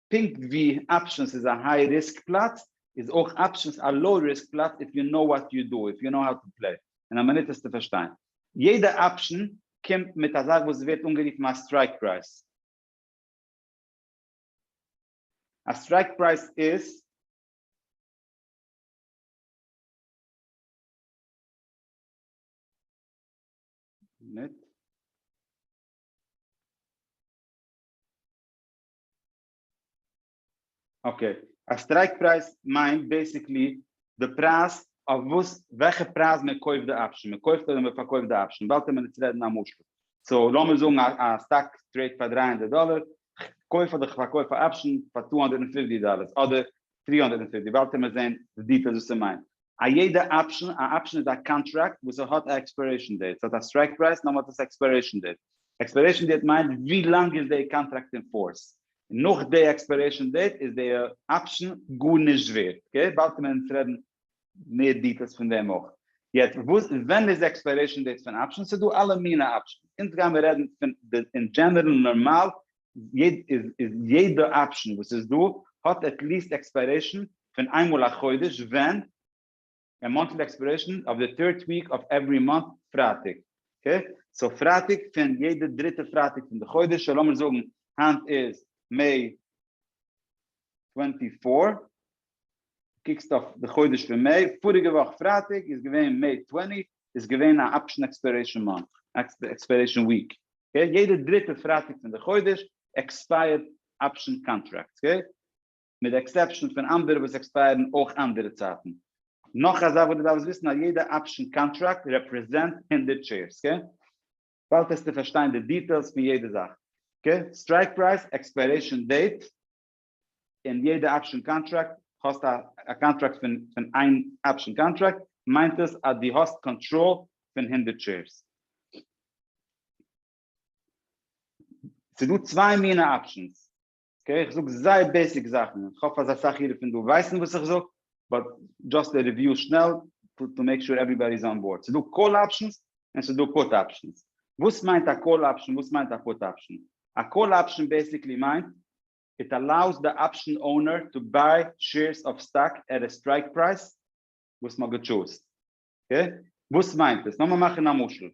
פונקט ווי אפשענס איז א היי ריסק פלאץ איז אויך אפשענס א לאו ריסק פלאץ איף יו נאו וואט יו דא איף יו נאו האו טו פלעי אין א מינוט וועסטו פארשטיין יעדע אפשען קומט מיט א זאך וואס ווערט אנגערופן א סטרייק פרייז א סטרייק פרייז איז אקעי, א סטרייק פרייז מיינט בעסיקלי די פרייז אויף וואס וועלכע פרייז מען קויפט די אפשען, מען קויפט אדער מען פארקויפט די אפשען, באלד טאר מען נישט רעדן א משל, סאו לאמיר זאגן א סטאק טרעיד פאר דרײַ הונדערט דאלער, איך קויף אדער איך פארקויף א אפשען פאר צוויי הונדערט פֿופֿציק דאלער אדער טרי הונדערט און פיפטי באלד העמער זעהן די דיטעילס וואס ס'מיינט א יעדע אפשן, א אפשן איז א קאנטראקט וואס ס'האט א עקספיירעישן דעיט, ס'האט א סטרייק פרייז נאר מ'האט עס עקספיירעישן דעיט, עקספיירעישן דעיט מיינט ווי לאנג איז די קאנטראקט אין פארס, נאך די עקספיירעישן דעיט איז די אפשן גארנישט ווערט, אקעי באלד קעמער אונז רעדן מער דיטעילס פון דעם אויך. יעצט וואס ווען איז עקספיירעישן דעיט פון אפשן, ס'דא אלע מיני אפשן, אונז גיימער רעדן פון די אין דזשענערל נארמאל יעדע אפשן וואס איז דא האט עטליעסט עקספיירעישן פון איינמאל א חודש ווען ער מאנטל די עקספיירעישן אויף די טירט וויק אויף עווערי מאנט פרייטאג אקעי סאו פרייטאג פון יעדע דריטע פרייטאג פון די חודש סאו לאמיר זאגן היינט איז מעי טווענטי פאר קוקסט אויף די חודש פון מעי, פאריגע וואך פרייטאג איז געווען מעי טווענטי, איז געווען א אפשן עקספיירעישן מאנט, עקספיירעישן וויק, אקעי, יעדע דריטע פרייטאג פון די חודש עקספייערט אפשן קאנטראקטס, אקעי, מיט די עקסעפשן פון אנדערע וואס עקספייערן אויך אנדערע צייטן. נאך א זאך וואס דו דארפסט וויסן, אז יעדע אפשן קאנטראקט רעפרעזענט הונדערט שעירס, אקעי, באלד העסטו פארשטיין די דיטעילס פון יעדע זאך, אקעי, סטרייק פרייז, עקספיירעישן דעיט, אין יעדע אפשען קאנטראקט האסט א קאנטראקט פון פון איין אפשען קאנטראקט מיינט עס אז דו האסט קאנטראל פון הונדערט שעירס. ס'איז דא צוויי מינע אפשענס, אקעי איך זאג זייער בעיסיק זאכן איך האף אז אסאך אירע פון דא ווייסן וואס איך זאג באט דזשאסט א ריוויו שנעל טו מעיק שור עוועריבאדי איז אן באורד. ס'איז דא קאל אפשענס און ס'איז דא פוט אפשענס. וואס מיינט א קאל אפשען וואס מיינט א פוט אפשען? א קאל אפשען בעיסיקלי מיינט איט אלאוס די אפשן אונער טו ביי שעירס אוו סטאק עט א סטרייק פרייז וואס מען האט געטשוזט. אקעי? וואס מיינט עס? לאמיר מאכן א משל.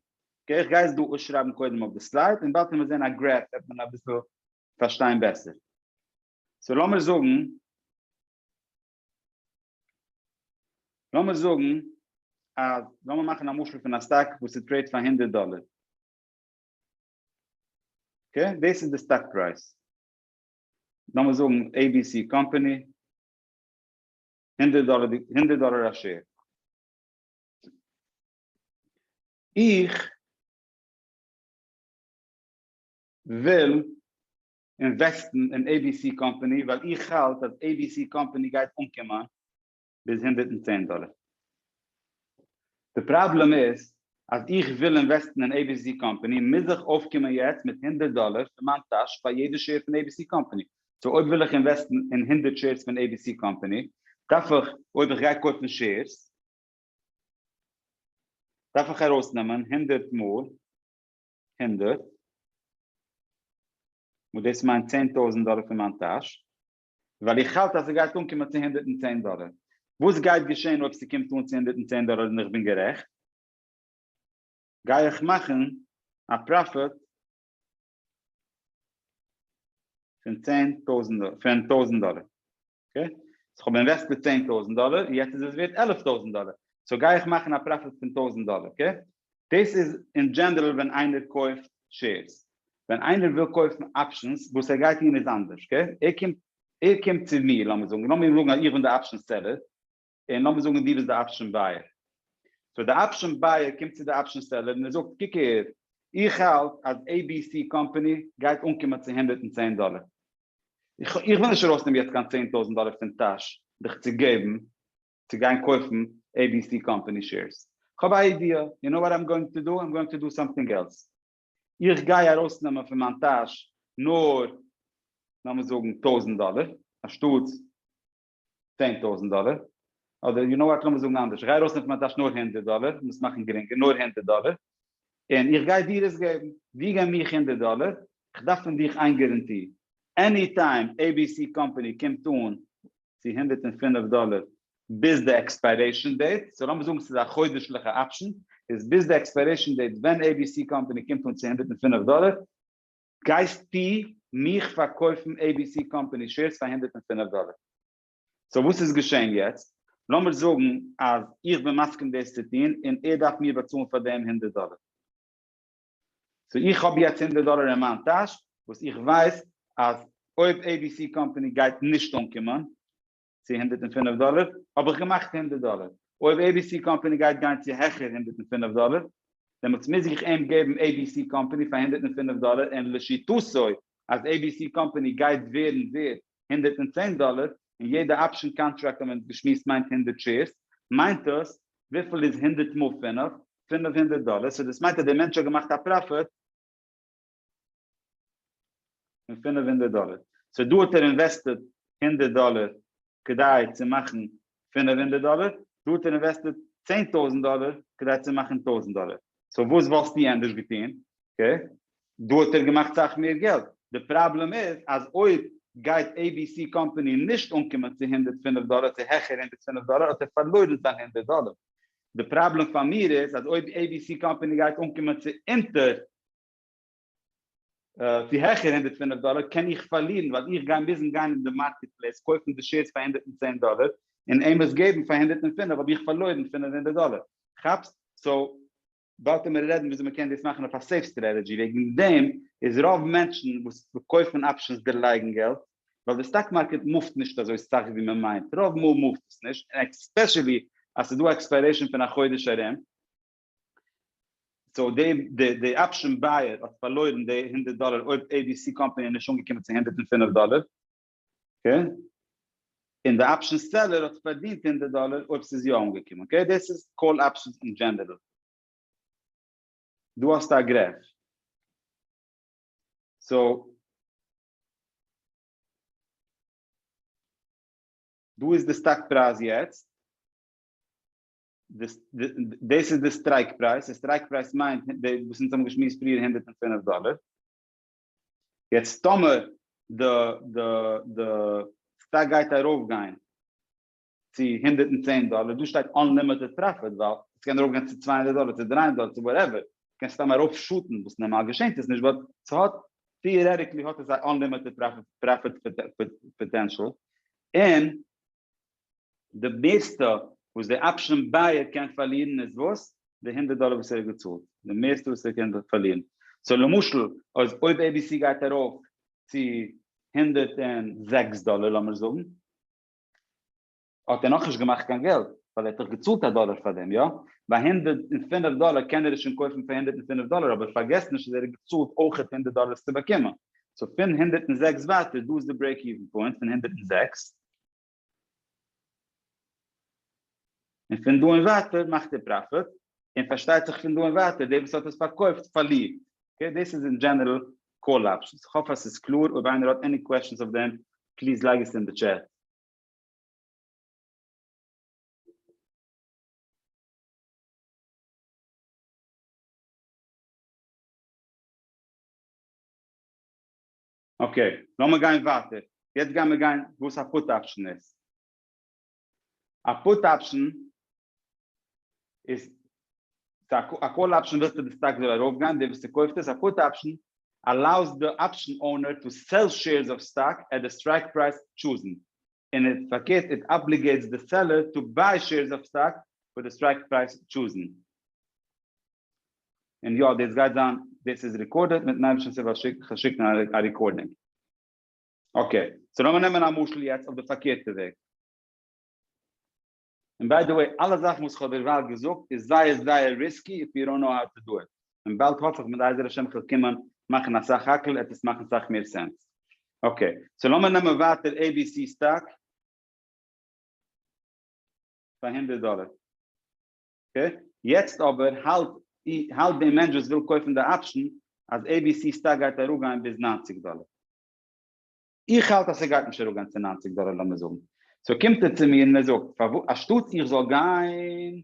אקעי? איך גיי עס דא אויסשרייבן קודם אויף די סלייד און בעת מיר זעהן א גרעף וועט מען אביסל פארשטיין בעסער. סאו לאמיר זאגן לאמיר זאגן אז לאמיר מאכן א משל פון א סטאק וואס איז טרעיד פאר הונדערט דאלער. אקעי, דאס איז די סטאק פרייז, לאמיר זאגן עי בי סי קאמפאני, הונדערט דאלער די, הונדערט דאלער א שער. איך וויל אינוועסטן אין עי בי סי קאמפאני ווייל איך האלט אז עי בי סי קאמפאני גייט אנקומען ביז הונדערט און צען דאלער. די פראבלעם איז אז איך וויל אינוועסטן אין עי בי סי קאמפעני מוז איך אויפקומען יעצט מיט הונדערט דאלער פון מיין טאש פאר יעדע שעיר פון עי בי סי קאמפעני, סאו אויב וויל איך אינוועסטן אין הונדערט שעירס פון עי בי סי קאמפעני דארף איך אויב איך גיי קויפן שעירס דארף איך ארויסנעמען הונדערט מאל הונדערט וואס דאס מיינט צען טויזנט דאלער פון מיין טאש. ווייל איך האלט אז ס'גייט אנקומען צו הונדערט און צען דאלער. וואס גייט געשען אויב ס'קומט אן צו הונדערט און צען דאלער און איך בין גערעכט? גיי איך מאכן א פראפיט פון צען טויזנט דאלער, פון טויזנט דאלער. אקעי? סאו כ'האב אינוועסטעד צען טויזנט דאלער, יעצט איז עס ווערט עלף טויזנט דאלער. סאו גיי איך מאכן א פראפיט פון טויזנט דאלער. אקעי? דאס איז אין דזשענערל ווען איינער קויפט שעירס. ווען איינער וויל קויפן אפשענס, וואס ער גייט טון איז אנדערש. ער קומט ער קומט צו מיר, לאמיר זאגן, לאמיר זאגן אז איך בין די אפשען סעלער, און לאמיר זאגן דו ביסט די אפשען בייער. סאו די אפשען בייער קומט צו די אפשען סעלער און ער זאגט, קוק אהער, איך האלט אז עי בי סי קאמפאני גייט אנקומען צו הונדערט און צען דאלער. איך איך וויל נישט ארויסנעמען יעצט קיין צען טויזנט דאלער פון טאש דיך צו געבן צו גיין קויפן עי בי סי קאמפאני שעירס, כ'האב א איידיע, יו נאו וואט איים גאוינג טו דו? איים גאוינג טו דו סאמטינג עלס, איך גיי ארויסנעמען פון מיין טאש נאר לאמיר זאגן טויזנט דאלער אנשטאט צען טויזנט דאלער, אדער יו נאו וואט לאמיר זאגן אנדערש, איך גיי ארויסנעמען פון מיין טאש נאר הונדערט דאלער, לאמיר עס מאכן גרינגער, נאר הונדערט דאלער, און איך גיי דיר עס געבן, דו גיי מיך הונדערט דאלער, כ'דארף פון דיך איין גערענטי, עני טיים abc קאמפאני קומט אן צו הונדערט און פֿינף דאלער ביז די עקספיירעישאן דעיט, סאו לאמיר זאגן ס'איז א חודש'ליכע אפשן, איז ביז די עקספיירעישאן דעיט ווען abc קאמפאני קומט אן צו הונדערט און פֿינף דאלער, גייסטו מיך פארקויפן abc קאמפאני שעירס פאר הונדערט און פֿינף דאלער. סאו וואס איז געשען יעצט? לאמיר זאגן אז איך בין מסכים דאס צו טון און ער דארף מיר באצאלן פאר דעם הונדערט דאלער. סאו איך האב יעצט הונדערט דאלער אין מיין טאש וואס איך ווייס אז אויב עי בי סי קאמפאני גייט נישט אנקומען צו הונדערט און פֿינף דאלער האב איך געמאכט הונדערט דאלער, אויב עי בי סי קאמפאני גייט גיין צו העכער הונדערט און פֿינף דאלער דעמאלטס מוז איך אים געבן עי בי סי קאמפאני פאר הונדערט און פֿינף דאלער און לשיטתו אז עי בי סי קאמפאני גייט ווערן ווערד הונדערט און צען דאלער און יעדע אפשען קאנטראקט האט מען געשמועסט מיינט הונדערט שעירס מיינט דאס וויפיל איז הונדערט מאל פֿינף פֿינף הונדערט דאלער סאו דאס מיינט אז דער מענטש האט געמאכט א פראפיט פון פֿינף הונדערט דאלער סאו דא האט ער אינוועסטעד הונדערט דאלער כדי צו מאכן פֿינף הונדערט דאלער דא האט ער אינוועסטעד צען טויזנט דאלער כדי צו מאכן טויזנט דאלער סאו וואס וואלסטו ענדערש געטון אקעי דא האט ער געמאכט סאך מער געלט די פראבלעם איז אז אויב גייט עי בי סי קאמפאני נישט אנקומען צו הונדערט פֿינף דאלער צו העכער הונדערט פֿינף דאלער האט ער פארלוירן זיין הונדערט דאלער די פראבלעם פאר מיר איז אז אויב עי בי סי קאמפעני גייט אנקומען צו אונטער צו העכער הונדערט פֿינף דאלער קען איך פארלירן ווייל איך גיי מוזן גיין אין די מארקעט פלעיס קויפן די שעירס פאר הונדערט און צען דאלער און עהם עס געבן פאר הונדערט און פֿינף האב איך פארלוירן פֿינף הונדערט דאלער כאפסט? סאו דארט וועט מען רעדן וויאזוי מען קען דאס מאכן אויף א סעיף סטרעטעדזשי, וועגן דעם איז רוב מענטשן וואס קויפן אפשענס דערלייגן געלט, ווייל די סטאק מארקעט מופט נישט אזוי סאך ווי מען מיינט, רוב מאל מופט עס נישט, און עקספעשעלי אז ס'איז דא א עקספיירעישן פון א חודש ארום, סאו די אפשען בייער האט פארלוירן די הונדערט דאלער אויב עי בי סי קאמפאני איז נישט אנגעקומען צו הונדערט און פֿינף דאלער. אקעי? און די אפשן סעלער האט פארדינט הונדערט דאלער אויב ס'איז יא אנגעקומען, אקעי? דאס איז קאל אפשנס אין דזשענערל. דא האסטו א גרעף. סאו. דא איז די סטאק פרייז יעצט. דאס איז די סטרייק פרייז. די סטרייק פרייז מיינט וואס אונז האבן געשמועסט פריער הונדערט און פֿינף דאלער. יעצט טאמער די די די סטאק גייט ארויף גיין צו הונדערט און צען דאלער, דא שטייט אנלימיטעד פראפיט ווייל עס קען ארויף גיין צו צוויי הונדערט דאלער צו דרײַ הונדערט דאלער צו וואטעווער, קען סתם ארויף שאטן וואס נארמאל געשענט עס נישט באט סהאט טיערעטיקלי האט עס א אנלימיטעד פראפיט פאטענשאל און די מערסטע וואס די אפשען בייער קען פארלירן איז וואס? די הונדערט דאלער וואס ער האט געצאלט, די מערסטע וואס ער קען פארלירן. סאו למשל אז אויב עי בי סי גייט ארויף צו הונדערט און זעקס דאלער לאמיר זאגן, האט ער נאכנישט געמאכט קיין געלט, ווייל ער האט דאך געצאלט א דאלער פאר דעם, יא? ביי הונדערט און פינף דאלער קען ער עס שוין קויפן פאר הונדערט און פינף דאלער, אבער פארגעס נישט אז ער האט געצאלט אויכעט הונדערט דאלער עס צו באקומען. סאו פון הונדערט און זעקס ווייטער, דא איז די ברעיק איווען פוינט, פון הונדערט און זעקס. און פון דא און ווייטער מאכט ער פראפיט, און פארשטייט זיך פון דא און ווייטער דער וואס האט עס פארקויפט פארלירט, אקעי דאס איז אין דזשענערל קאל אפשענס, איך האף אז ס'איז קלאר, אויב איינער האט עני קוועשענס אויף דעם פליז לייג עס אין די טשעט. אקעי, לאמיר גיין ווייטער, יעצט גייען מיר גיין וואס א פוט אפשן איז. א פוט אפשן איז א קאל אפשן ווילסטו די סטאק זאל ארויפגיין, דער וואס ס'קויפט עס, א פוט אפשן allows די אפשן אונער טו סעל שעירס אוו סטאק עט די סטרייק פרייז טשוזן, און פארקערט איט אבליגעיטס די סעלער טו ביי שעירס אוו סטאק פאר די סטרייק פרייז טשוזן. און יא דאס גייט זיין דאס איז ריקארדעד מיטן אייבערשטנס הילף איך וועל שיקן א ריקארדינג אקעי סאו לאמיר נעמען א משל יעצט אויף די פארקערטע וועג און ביי די וועי אלע זאכן וואס איך האב דערווייל געזאגט איז זייער זייער ריסקי איף יו דאנט נאו האו טו דא איט און באלד האף איך בעזר השם איך וועל קומען מאכן אסאך האקל עט עס מאכן סאך מער סענס אקעי סאו לאמיר נעמען ווייטער עי בי סי סטאק פאר הונדערט דאלער יעצט אבער האלט האלט דעם מענטש וואס וויל קויפן די אפשן אז עי בי סי סטאק גייט אראפגיין ביז נײַנציק דאלער. איך האלט אז ס'גייט נישט אראפגיין צו נײַנציק דאלער לאמיר זאגן. סאו קומט ער צו מיר און ער זאגט פארוואס אנשטאטס איך זאל גיין,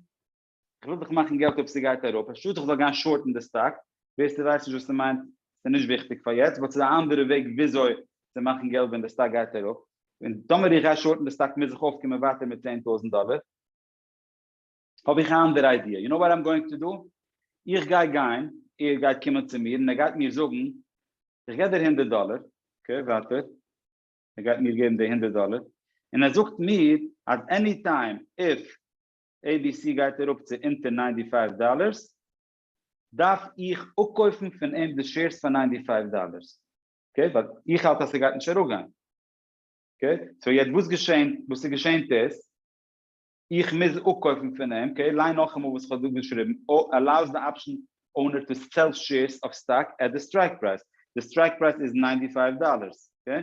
איך וויל דאך מאכן געלט אויב ס'גייט אראפ, אנשטאטס איך זאל גיין שארטן די סטאק, ווער ס'ווייסט נישט וואס ס'מיינט, ס'נישט וויכטיג פאר יעצט, באט ס'איז א אנדערע וועג וויאזוי צו מאכן געלט ווען די סטאק גייט אראפ, און טאמער איך גיי שארטן די סטאק מוז איך אויפקומען ווייטער מיט צען טויזנט דאלער. האב איך א אנדערע איידיע, יו נאו וואט איים גאוינג טו דא? איך גיי גיין, ער גייט קומען צו מיר און ער גייט מיר זאגן, איך גיב דיר הונדערט דאלער, אקעי ווייטער, ער גייט מיר געבן די הונדערט דאלער, און ער זאגט מיר אז עני טיים איף עי בי סי גייט אראפ צו אונטער ניינטי פייוו דאלערס, דארף איך אפקויפן פון אים די שעירס פאר ניינטי פייוו דאלערס, אקעי, ווייל איך האלט אז ס'גייט נישט אראפגיין, אקעי, סאו יעצט וואס געשענט, וואס ס'געשענט איז, איך מוז אפקויפן פון אים, אקעי, ליין נאכאמאל וואס איך האב דא געשריבן, allows the option owner to sell shares of stock at the strike price, די סטרייק פרייז איז ניינטי פייוו דאללערס, אקעי,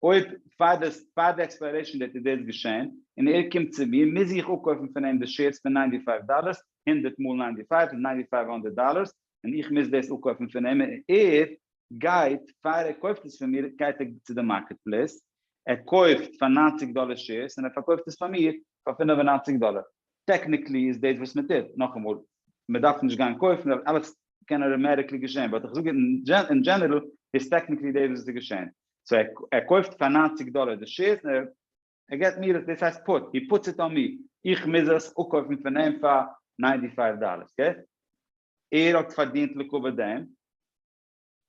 אויב פאר די פאר די עקספיירעישן דעיט איז דאס געשען, און ער קומט צו מיר, מוז איך אפקויפן פון אים די שעירס פאר ניינטי פייוו דאללערס, הונדערט מאל ניינטי פייוו איז ניינטי פייוו הונדערט דאללערס, און איך מוז דאס אפקויפן פון אים, און ער גייט פאר ער קויפט עס פון מיר גייט ער צו די מארקעט פלעיס ער קויפט פאר נײַנציק דאלער שעירס און ער פארקויפט עס פאר מיר פאר פֿינף און נײַנציק דאלער טעקניקלי איז דאס וואס מען טוט נאכאמאל מען דארף נישט גיין קויפן ווייל אלעס קען אוטאמעטיקלי געשען באט איך זאג אין דזשענערל איז טעקניקלי דאס וואס איז געשען סאו ער קויפט פאר נײַנציק דאלער די שעירס און ער ער געט מיר עס, דאס הייסט פוט, הי פוטס איט אן מי, איך מוז עס אפקויפן פון אים פאר ניינטי פייוו דאללערס, אקעי? ער האט פארדינט לקבע דעם,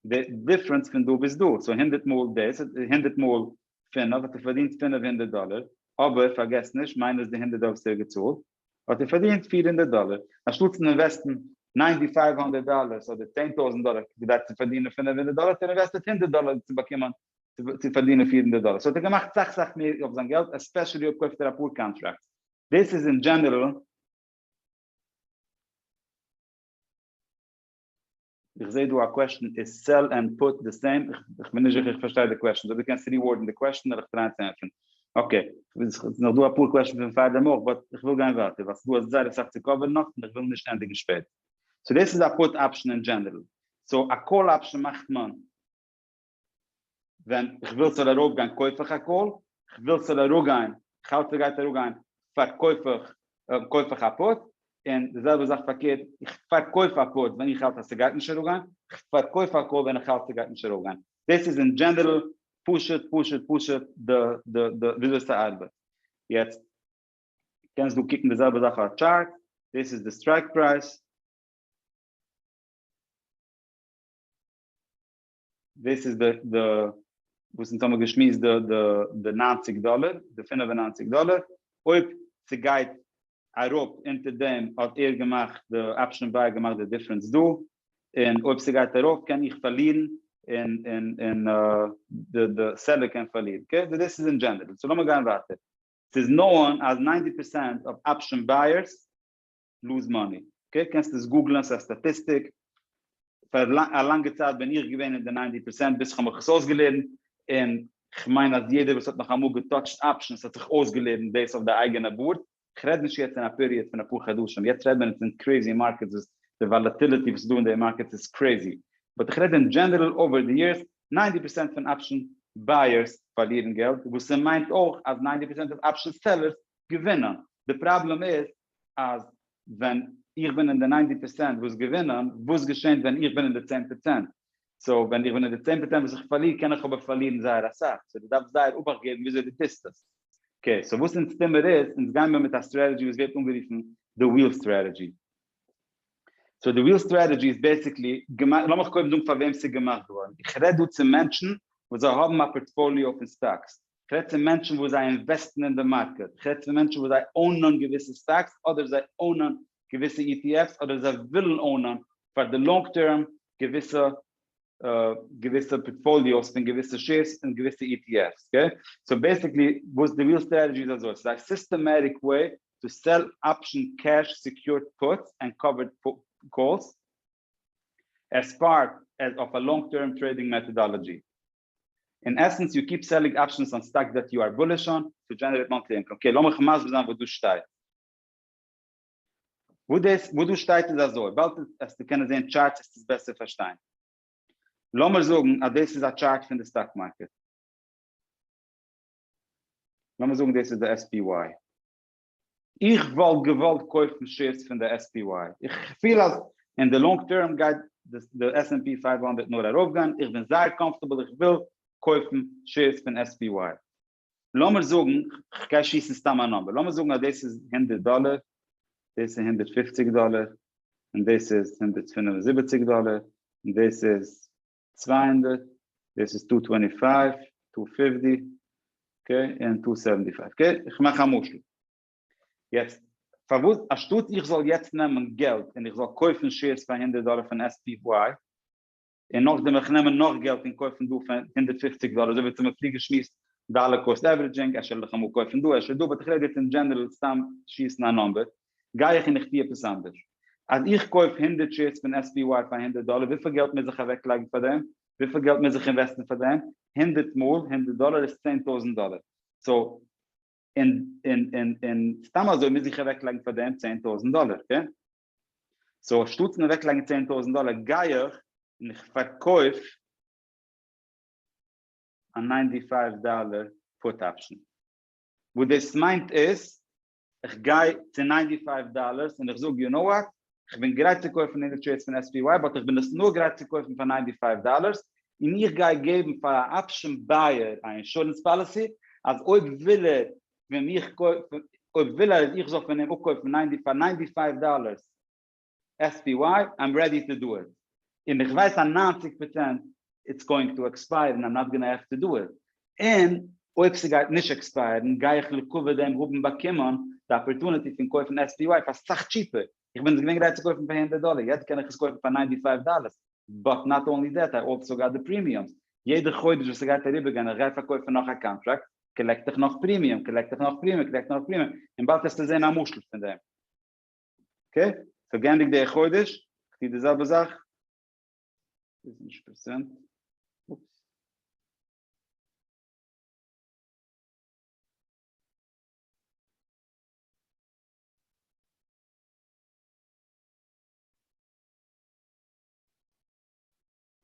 די דיפרענס פון דא ביז דא, סאו הונדערט מאל דאס, הונדערט מאל פינף, האט ער פארדינט פינף הונדערט דאללער, אבער פארגעס נישט, מיינוס די הונדערט דאללער וואס ער האט געצאלט, האט ער פארדינט פֿיר הונדערט דאללער, אנשטאטס צו אינוועסטן ניינטי פייוו הונדערט דאללערס אדער צען טויזנט דאללער כדי צו פארדינען פינף הונדערט דאללער, האט ער אינוועסטעט הונדערט דאללער צו באקומען צו פארדינען פֿיר הונדערט דאלער, סאו האט ער געמאכט סאך סאך מער אויף זיין געלט, עספעשעלי אויב קויפט ער אפאר קאנטראקטס, דאס איז אין דזשענערעל. איך זעה דא א קוועשן, איז סעל ענד פוט די סעים? איך בין נישט זיכער איך פארשטיי די קוועשן, אדער דו קענסט ריווארדן די קוועשן וועל איך טרייען צו ענטפערן. אקעי, עס איז נאך דא אפאר קוועשנס פון פארדעם אויך, באט איך וויל גיין ווייטער ווייל דא איז זייער אסאך צו קאווערן נאך און איך וויל נישט ענדיגן שפעט. סאו דאס איז א פוט אפשן אין דזשענערעל. סאו א קאל אפשן מאכט מען. ווען איך וויל ס'זאל ארויפגיין קויף איך א קאל, איך וויל ס'זאל אראפגיין, איך האלט ס'גייט אראפגיין, פארקויף איך, קויף איך א פוט, און די זעלבע זאך פארקערט, איך פארקויף א פוט ווען איך האלט אז ס'גייט נישט אראפגיין, איך פארקויף א קאל ווען איך האלט ס'גייט נישט ארויפגיין. דאס איז אין דזשענערל פשוט פשוט פשוט די וויאזוי ס'ארבעט. יעצט קענסט דא קוקן די זעלבע זאך אויף א טשארט, דאס איז די סטרייק פרייז, דאס איז די די וואס אונז האבן געשמועסט די די די נײַנציק דאלער די פֿינף און נײַנציק דאלער אויב ס'גייט אראפ אונטער דעם האט ער געמאכט די אפשען ביי געמאכט די דיפרענס דא און אויב ס'גייט ארויף קען איך פארלירן און און און די די סעלער קען פארלירן אקעי דאס איז אין דזשענערל סאו לאמיר גיין ווייטער ס'איז נאון אז נײַנציק פראצענט אויף אפשען בייערס לוז מאני, אקעי, קענסט עס גוגלען, ס'איז א סטאטיסטיק, פאר א לאנגע צייט בין איך געווען אין די ניינטי פערסענט ביז כ'האב מיך עס אויסגעלערנט, און כ'מיין אז יעדער וואס האט נאך אמאל געטאטשט אפשענס האט זיך אויסגעלערנט דאס אויף די אייגענע בארד, כ'רעד נישט יעצט אין א פיריעד פון אפאר חדשים, יעצט רעדט מען פון קרעזי מארקעטס וואס די וואלעטיליטי וואס איז דא אין די מארקעטס איז קרעזי, באט איך רעד אין דזשענערעל אווער די יערס, ניינטי פערסענט פון אפשען בייערס פארלירן געלט, וואס ס'מיינט אויך אז ניינטי פערסענט אוו אפשען סעלערס געווינען, די פראבלעם איז אז ווען איך בין אין די ניינטי פערסענט וואס געווינען, וואס געשענט ווען איך בין אין די צען פערצענט? סאו ווען איך בין אין די צען פערצענט וואס איך פארליר קען איך אבער פארלירן זייער אסאך, סאו דו דארפסט זייער אבאכט געבן וויאזוי דו טוסט עס. אקעי, סאו וואס אונז טוהן מיר איז, אונז גיין מיר מיט א סטרעטעדזשי וואס ווערט אנגערופן די וויל סטרעטעדזשי. סאו די וויל סטרעטעדזשי איז בעסיקלי, לאמיך קודם זאגן פאר וועם ס'איז געמאכט געווארן. איך רעד דא צו מענטשן וואס זיי האבן א פארטפאליאו פון סטאקס, כ'רעד צו מענטשן וואס זיי אינוועסטן אין די מארקעט, כ'רעד צו מענטשן וואס זיי אונען געוויסע סטאקס אדער זיי אונען געוויסע ETFs אדער זיי ווילן אונען פאר די לאנג טערם געוויסע געוויסע פארטפאליאוס פון געוויסע שעירס און געוויסע ETFs אקעי, סאו בעסיקלי וואס די ריעל סטראטעגי איז אזוי, ס'איז א סיסטעמעטיק וועי טו סעל אפשן קעש סעקיורד פוטס ענד קאווערד קאלס עז פארט עז אויף א לאנג טערם טרעידינג מעטאדאלאגי. אין עסענס יו קיפ סעלינג אפשענס אן סטאקס דעט יו אר בוליש אן טו דזשענערעיט מאנטלי אינקאם, אקעי לאמיך מסביר זיין וואס דא שטייט, וואס דאס וואס דא שטייט איז אזוי, באלד עסטו קענען זעהן טשארטס עסט עס בעסער פארשטיין, לאמיר זאגן אז דאס איז א טשארט פון די סטאק מארקעט, לאמיר זאגן דאס איז די SPY. איך וואלט געוואלט קויפן שעירס פון די SPY, איך פיל אז אין די לאנג טערם גייט די עס ענד פי פייוו הונדערט נאר ארויפגיין, איך בין זייער קאמפארטעבל איך וויל קויפן שעירס פון SPY, לאמיר זאגן, כ'גיי שיסן סתם א נומבער, לאמיר זאגן אז דאס איז הונדערט דאלער, דאס איז הונדערט פופציג דאלער, און דאס איז הונדערט פינף און זיבעציג דאלער, און דאס איז צוויי הונדערט, דאס איז טו טווענטי פייוו, טו פיפטי, אקעי, און טו סעווענטי פייוו, אקעי, איך מאך א משל, יעצט, פארוואס אנשטאט איך זאל יעצט נעמען געלט און איך זאל קויפן שעירס פאר הונדערט דאלער פון SPY, און נאכדעם וועל איך נעמען נאך געלט און קויפן דא פאר הונדערט פופציג דאלער, אזוי ווי אונז האבן פריער געשמועסט דאלער קאסט עווערעדזשינג, אפשר וועל איך אמאל קויפן דא, אפשר דא, באט איך רעד יעצט אין דזשענערעל סתם שיסן א נומבער, גיי איך און איך טו עפעס אנדערש. אז איך קויף הונדערט שעירס פון עס פי וואי פאר הונדערט דאלער וויפיל געלט מוז איך אוועק לייגן פאר דעם? וויפיל געלט מוז איך אינוועסטן פאר דעם? הונדערט מאל הונדערט דאלער איז צען טויזנט דאלער. סאו און און און און סתם אזוי מוז איך אוועק לייגן פאר דעם צען טויזנט דאלער אקעי. סאו אנשטאטס פון אוועק לייגן צען טויזנט דאלער גיי איך און איך פארקויף א ניינטי פייוו דאלער פוט אפשן. וואס דאס מיינט איז איך גיי צו ניינטי פייוו דאלערס און איך זאג יו נאו וואט, איך בין גרייט צו קויפן הונדערט שעירס פון SPY באט איך בין עס נאר גרייט צו קויפן פאר ניינטי פייוו דאלערס און איך גיי געבן פאר א אפשען בייער א אינשורענס פאליסי אז אויב וויל ער פון מיך אויב וויל ער אז איך זאל פון אים אפקויפן פאר ניינטי פייוו דאלערס. SPY, I'm ready to do it. און איך ווייס א נײַנציק פראצענט it's going to expire and I'm not gonna have to do it. און אויב ס'גייט נישט עקספייערן גיי איך לעיקוואד דעם האבן באקומען די אפערטוניטי פון קויפן SPY פאר סאך טשיפער. איך בין עס געווען גרייט צו קויפן פאר הונדערט דאלער, יעצט קען איך עס קויפן פאר ניינטי פייוו דאלער. באט נאט אנלי דעט, איי אלסא גאט די פרימיומס. יעדע חודש וואס ס'גייט אריבערגיין איך גיי פארקויפן נאך א קאנטראקט, קאלעקט איך נאך פרימיום, קאלעקט איך נאך פרימיום, קאלעקט נאך פרימיום, און באלד העסטו זען א משל פון דעם. אקעי, סאו גייענדיג די חודש, כ'טוה די זעלבע זאך, איז נישט פרעזענט, אופס.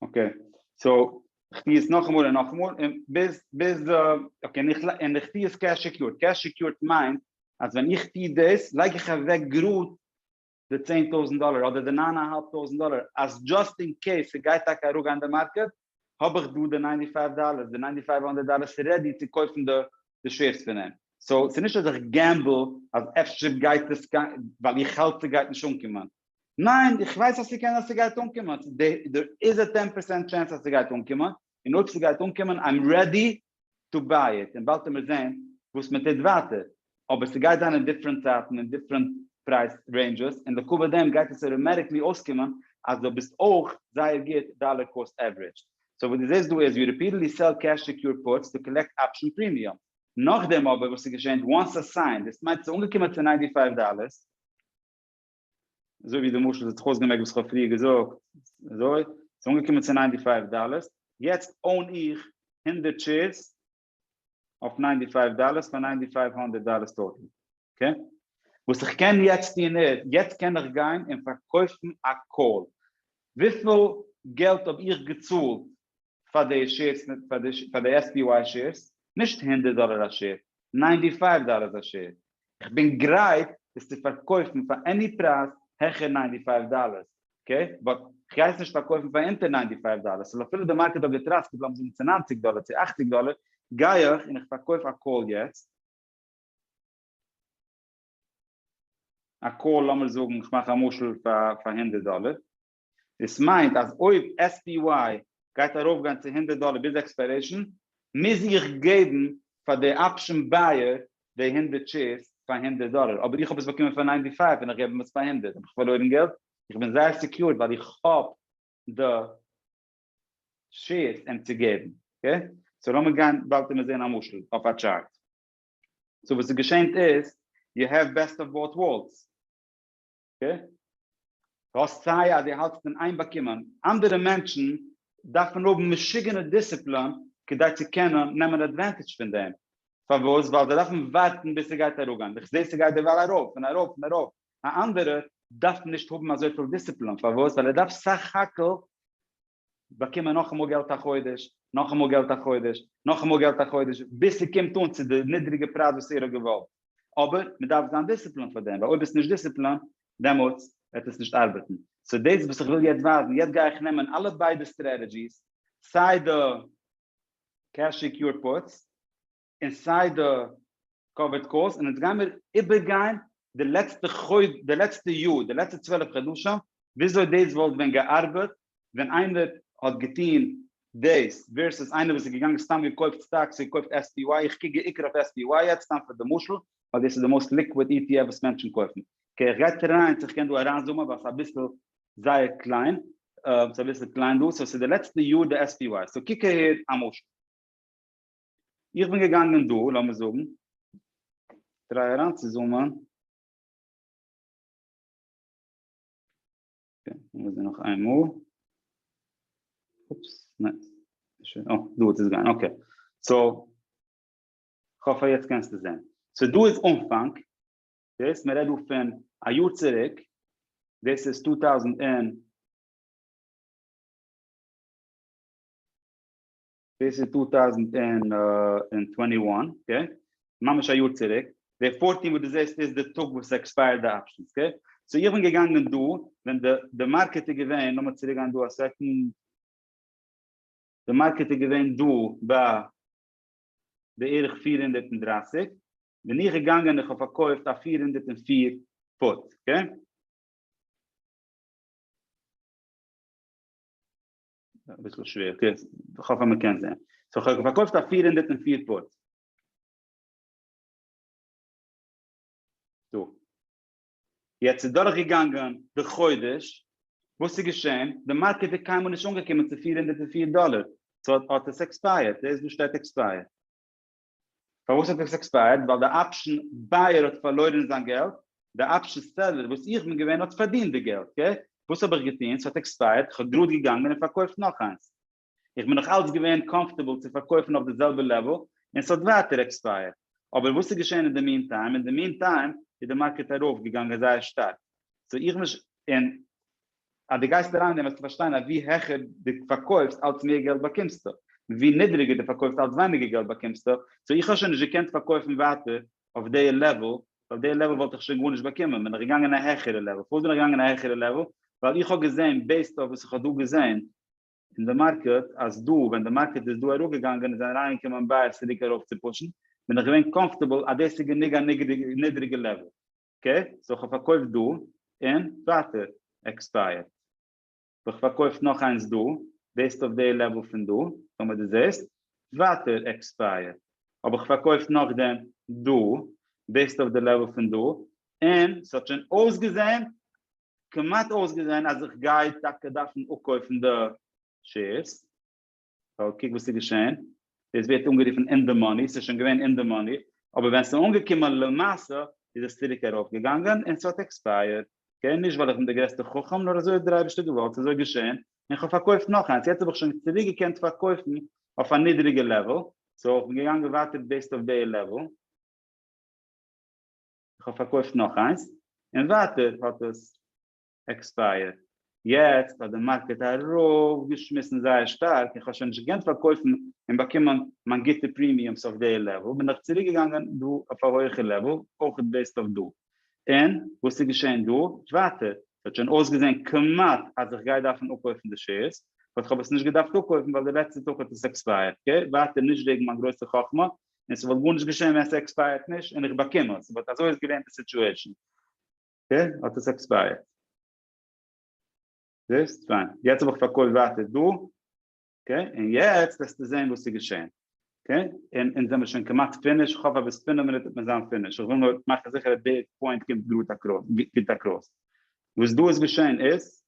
אקעי, סאו איך טוה עס נאכאמאל און נאכאמאל און ביז ביז די, אקעי און איך און איך טוה עס קעש סעקיורד, קעש סעקיורד מיינט אז ווען איך טוה דאס לייג איך אוועק גראד די צען טויזנט דאלער אדער די ניין א האלב טויזנט דאלער אז דזשאסט אין קעיס ס'גייט טאקע אראפגיין די מארקעט האב איך דא די ניינטי פייוו דאלער, די ניינטי פייוו האנדרעט דאלער איז רעדי צו קויפן די די שעירס פון אים, סאו ס'נישט אז איך געמבל אז אפשר גייט עס גיין ווייל איך האלט ס'גייט נישט אנקומען. ניין איך ווייס אז ס'קען אז ס'גייט אנקומען, דער איז א טען פערסענט טשענס אז ס'גייט אנקומען, און אויב ס'גייט אנקומען איים רעדי טו ביי איט, און באלד העמער זעהן וואס מ'טוט ווייטער, אבער ס'גייט זיין אין דיפרענט צייטן און דיפרענט פרייז רעינדזשעס, און לכה פ דעם גייט עס אוטאמעטיקלי אויסקומען אז דו ביסט אויך זייער גוט דאלער קאסט עווערידזש. סאו וואס דו זעהסט דא איז ווי ריפיטעדלי סעל קעש סעקיורד פוטס טו קאלעקט אפשן פרימיום. נאכדעם אבער וואס ס'געשענט וואנס א סיין, דאס מיינט ס'איז אנגעקומען צו ניינטי פייוו דאלערס, אזוי ווי די משל האט זיך אויסגעמעקט וואס איך האב פריער געזאגט, אזוי, ס'איז אנגעקומען צו ניינטי פייוו דאללער, יעצט אוין איך הונדערט שעירס אויף ניינטי פייוו דאללער פאר ניינטי פייוו הונדערט דאללער טאטעל, אקעי? וואס איך קען יעצט טון איז, יעצט קען איך גיין און פארקויפן א קאל, וויפיל געלט האב איך געצאלט פאר די שעירס פאר די SPY שעירס? נישט הונדערט דאלער א שעיר, ניינטי פייוו דאלערס א שעיר, איך בין גרייט עס צו פארקויפן פאר עני פרייז העכער ניינטי פייוו דאלערס אקעי באט כ'גיי עס נישט פארקויפן פאר אונטער ניינטי פייוו דאלערס סאו אפילו די מארקעט האט געטראסקעט לאמיר זאגן צו ניינציג דאלער צו אכציג דאלער גיי איך און איך פארקויף א קאל יעצט א קאל לאמיר זאגן איך מאך א משל פאר הונדערט דאלער דאס מיינט אז אויב SPY גייט ארויף גיין צו הונדערט דאלער ביז עקספיירעישן מוז איך געבן פאר די אפשן בייער די הונדערט שעירס פאר הונדערט דאלער אבער איך האב עס באקומען פאר ניינטי פייוו און איך געב אים עס פאר הונדערט האב איך פארלוירן געלט? איך בין זייער סעקיורד ווייל איך האב די שעירס אים צו געבן אקעי סאו לאמיר גיין באלד און מיר זעהן א משל אויף א טשארט. סאו וואס איז געשענט איז יו העוו בעסט אוו באוט ווארלדס, אקעי? דו האסט סיי אז דו האלטסט אין איין באקומען, אנדערע מענטשן דארפן האבן משוגענע דיסציפלין כדי צו קענען נעמען עדווענטידזש פון דעם, פארוואס? ווייל זיי דארפן ווארטן ביז ס'גייט אראפגיין, איך זעה ס'גייט דערווייל ארויף און ארויף און ארויף, א אנדערער דארף נישט האבן אזויפיל דיסציפלין, פארוואס? ווייל ער דארף סך הכל באקומען נאכאמאל געלט א חודש, נאכאמאל געלט א חודש, נאכאמאל געלט א חודש, ביז ס'קומט אן צו די נידריגע פרייז וואס ער האט געוואלט. אבער מ'דארף זיין דיסציפלינט פאר דעם, ווייל אויב ביסט נישט דיסציפלינט, דעמאלטס וועט עס נישט ארבעטן. סאו דאס וואס איך וויל יעצט ווייזן, יעצט גיי איך נעמען אלע ביידע סטרעטעדזשיס, סיי די קעש סעקיורד פוטס, און סיי די קאוויד קאלס, און אונז גיימיר איבערגיין די לעצטע חודש, די לעצטע יאר, די לעצטע צוועלף חדשים, וויאזוי דאס וואלט ווען געארבעט ווען איינער האט געטון דאס ווערסעס איינער וואס איז געגאנגען סתם געקויפט סטאקס און געקויפט SPY, איך קוק בעיקר אויף SPY יעצט סתם פאר די משל, ווייל דאס איז די מאוסט ליקוויד ETF וואס מענטשן קויפן. אקעי איך גיי טרייען צו איך קען דא אריינזומען ווייל ס'איז אביסל זייער קליין, ס'איז אביסל קליין דא, סאו ס'איז די לעצטע יאר די SPY, סאו קוק אהער א משל. איך בין געגאנגען דא, לאמיר זאגן, טריי אריינצוזומען, לאמיר זען נאך איין מאל, אופס, ניין, אה, דא האט עס געגאנגען, אקעי, סאו, כ'האף אז יעצט קענסטו זען, סאו דא איז אנפאנג, דאס, מ'רעדט דא פון א יאר צוריק, דאס איז צוויי טויזנט און, דאס איז טו טויזנט און טווענטי וואן, אקעי, ממש א יאר צוריק, די פארטין וואס דו זעסט איז די טאג וואס עקספייערט די אפשענס, אקעי, סאו איך בין געגאנגען דא ווען די די מארקעט איז געווען, לאמיר צוריק גיין דא א סעקענד, די מארקעט איז געווען דא ביי בערך פֿיר הונדערט און דרײַסיק, בין איך געגאנגען און איך האב פארקויפט א פֿיר הונדערט און פֿיר פוט, אקעי. אביסל שווער, אקעי, איך האף אז מען קען זעהן. סאו איך האב פארקויפט א פֿיר הונדערט און פֿיר פוט. דא. יעצט איז דורכגעגאנגען די חודש, וואס איז געשען? די מארקעט איז קיינמאל נישט אנגעקומען צו פֿיר הונדערט און פֿיר דאלער, סאו האט עס עקספייערט, דעיס דא שטייט עקספייערט. פארוואס האט עס עקספייערט? ווייל די אפשן בייער האט פארלוירען זיין געלט, די אפשן סעללער וואס איך בין געווען האט פארדינט די געלט, קעי? וואס האב איך געטוהן? ס'האט עקספייערט, איך האב גראד געגאנגען און פארקויפט נאך איינס, איך בין נאך אלץ געווען קאמפארטעבל צו פארקויפן אויף די זעלבע לעוועל און ס'האט ווייטער עקספייערט, אבער וואס איז געשעהן אין די מין טיים? אין די מין טיים איז די מארקעט ארויף געגאנגען זייער שטארק, סאו איך בין נישט אין אז דו גייסט אריין און וועסטו פארשטיין אז ווי העכער דו פארקויפסט אלץ מער געלט באקומסטו, און ווי נידריגער דו פארקויפסט אלץ ווייניגער געלט באקומסטו, סאו איך האב שוין נישט געקענט פארקויפן ווייטער אויף די לעוועל, ווייל די לעוועל וואלט איך שוין גארנישט באקומען, בין איך געגאנגען א העכערע לעוועל, פארוואס בין איך געגאנגען א העכערע לעוועל? ווייל איך האב געזען בעיסד אויף וואס איך האב דא געזען אין די מארקעט אז דא ווען די מארקעט איז דא אראפגעגאנגען און זענען אריינגעקומען בייערס צוריק ארויפצופושן בין איך געווען קאמפארטעבל אז דאס איז גענוג א נידריגע לעוועל. אקעי סאו כ'פארקויף דא און ווייטער עקספייערט וועל איך פארקויף נאך איינס דא בעיסד אויף די לעוועל פון דא טאמער דו זעסט ווייטער עקספייערט האב איך פארקויפט נאכדעם דא בעיסד אויף די לעוועל פון דא און ס'האט שוין אויסגעזען כמעט אויסגעזען אז איך גיי טאקע דארפן אפקויפן די שעירס. סאו קוק וואס איז געשען, דאס ווערט אנגערופן אין די מאני, ס'איז שוין געווען אין די מאני, אבער ווען ס'איז אנגעקומען למעשה איז עס צוריק ארויפגעגאנגען און ס'האט עקספייערט, אקעי, נישט ווייל איך בין דער גרעסטער חכם, נאר אזוי האט דער אייבערשטער געוואלט, ס'איז אזוי געשען, און כ'האב פארקויפט נאך איינס, יעצט האב איך שוין צוריק געקענט פארקויפן אויף א נידריגע לעוועל, סאו איך בין געגאנגען ווייטער בעיסד אויף די לעוועל, איך האב פארקויפט נאך איינס, און ווייטער האט עס. עקספייערט, יעצט אז די מארקעט ארויף געשמיסן זייער שטארק און כ'האב שוין נישט געקענט פארקויפן און באקומען מיין גוטע פרימיומס אויף די לעוועל בין איך צוריק געגאנגען דא אויף א הויעכע לעוועל אויכעט בעיסד אויף דא און וואס איז געשען דא ווייטער ס'האט שוין אויסגעזען כמעט אז איך גיי דארפן אפקויפן די שעירס באט כ'האב עס נישט געדארפט אפקויפן ווייל די לעצטע טאג האט עס עקספייערט אקעי ווייטער נישט וועגן מיין גרויסע חכמה און ס'וואלט גארנישט געשען ווען עס עקספייערט נישט און איך באקום עס באט אזוי איז געווען די סיטועישן. אקעי, האט עס עקספייערט. זעהסט? פיין. יעצט האב איך פארקויפט ווייטער דא. אקעי, און יעצט וועסטו זעהן וואס איז געשעהן. אקעי, און אונז זעמיר שוין כמעט פיניש, כ'האף אז ביז פינף מינוט וועט מען זיין פיניש, איך וויל נאר מאכן זיכער אז די פוינט קומט גראד אקראס, גוט אקראס. וואס דא איז געשעהן איז.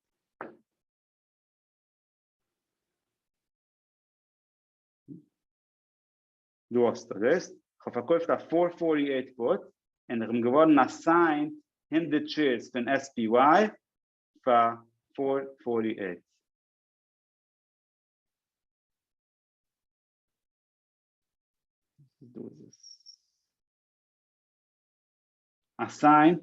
דו האסט אדרעסט, כ'האב פארקויפט א פאר פארטי עיט פוט און כ'בין געווארן אסיינט הונדערט שעירס פון SPY פאר פאר פארטי עיט. אסיינט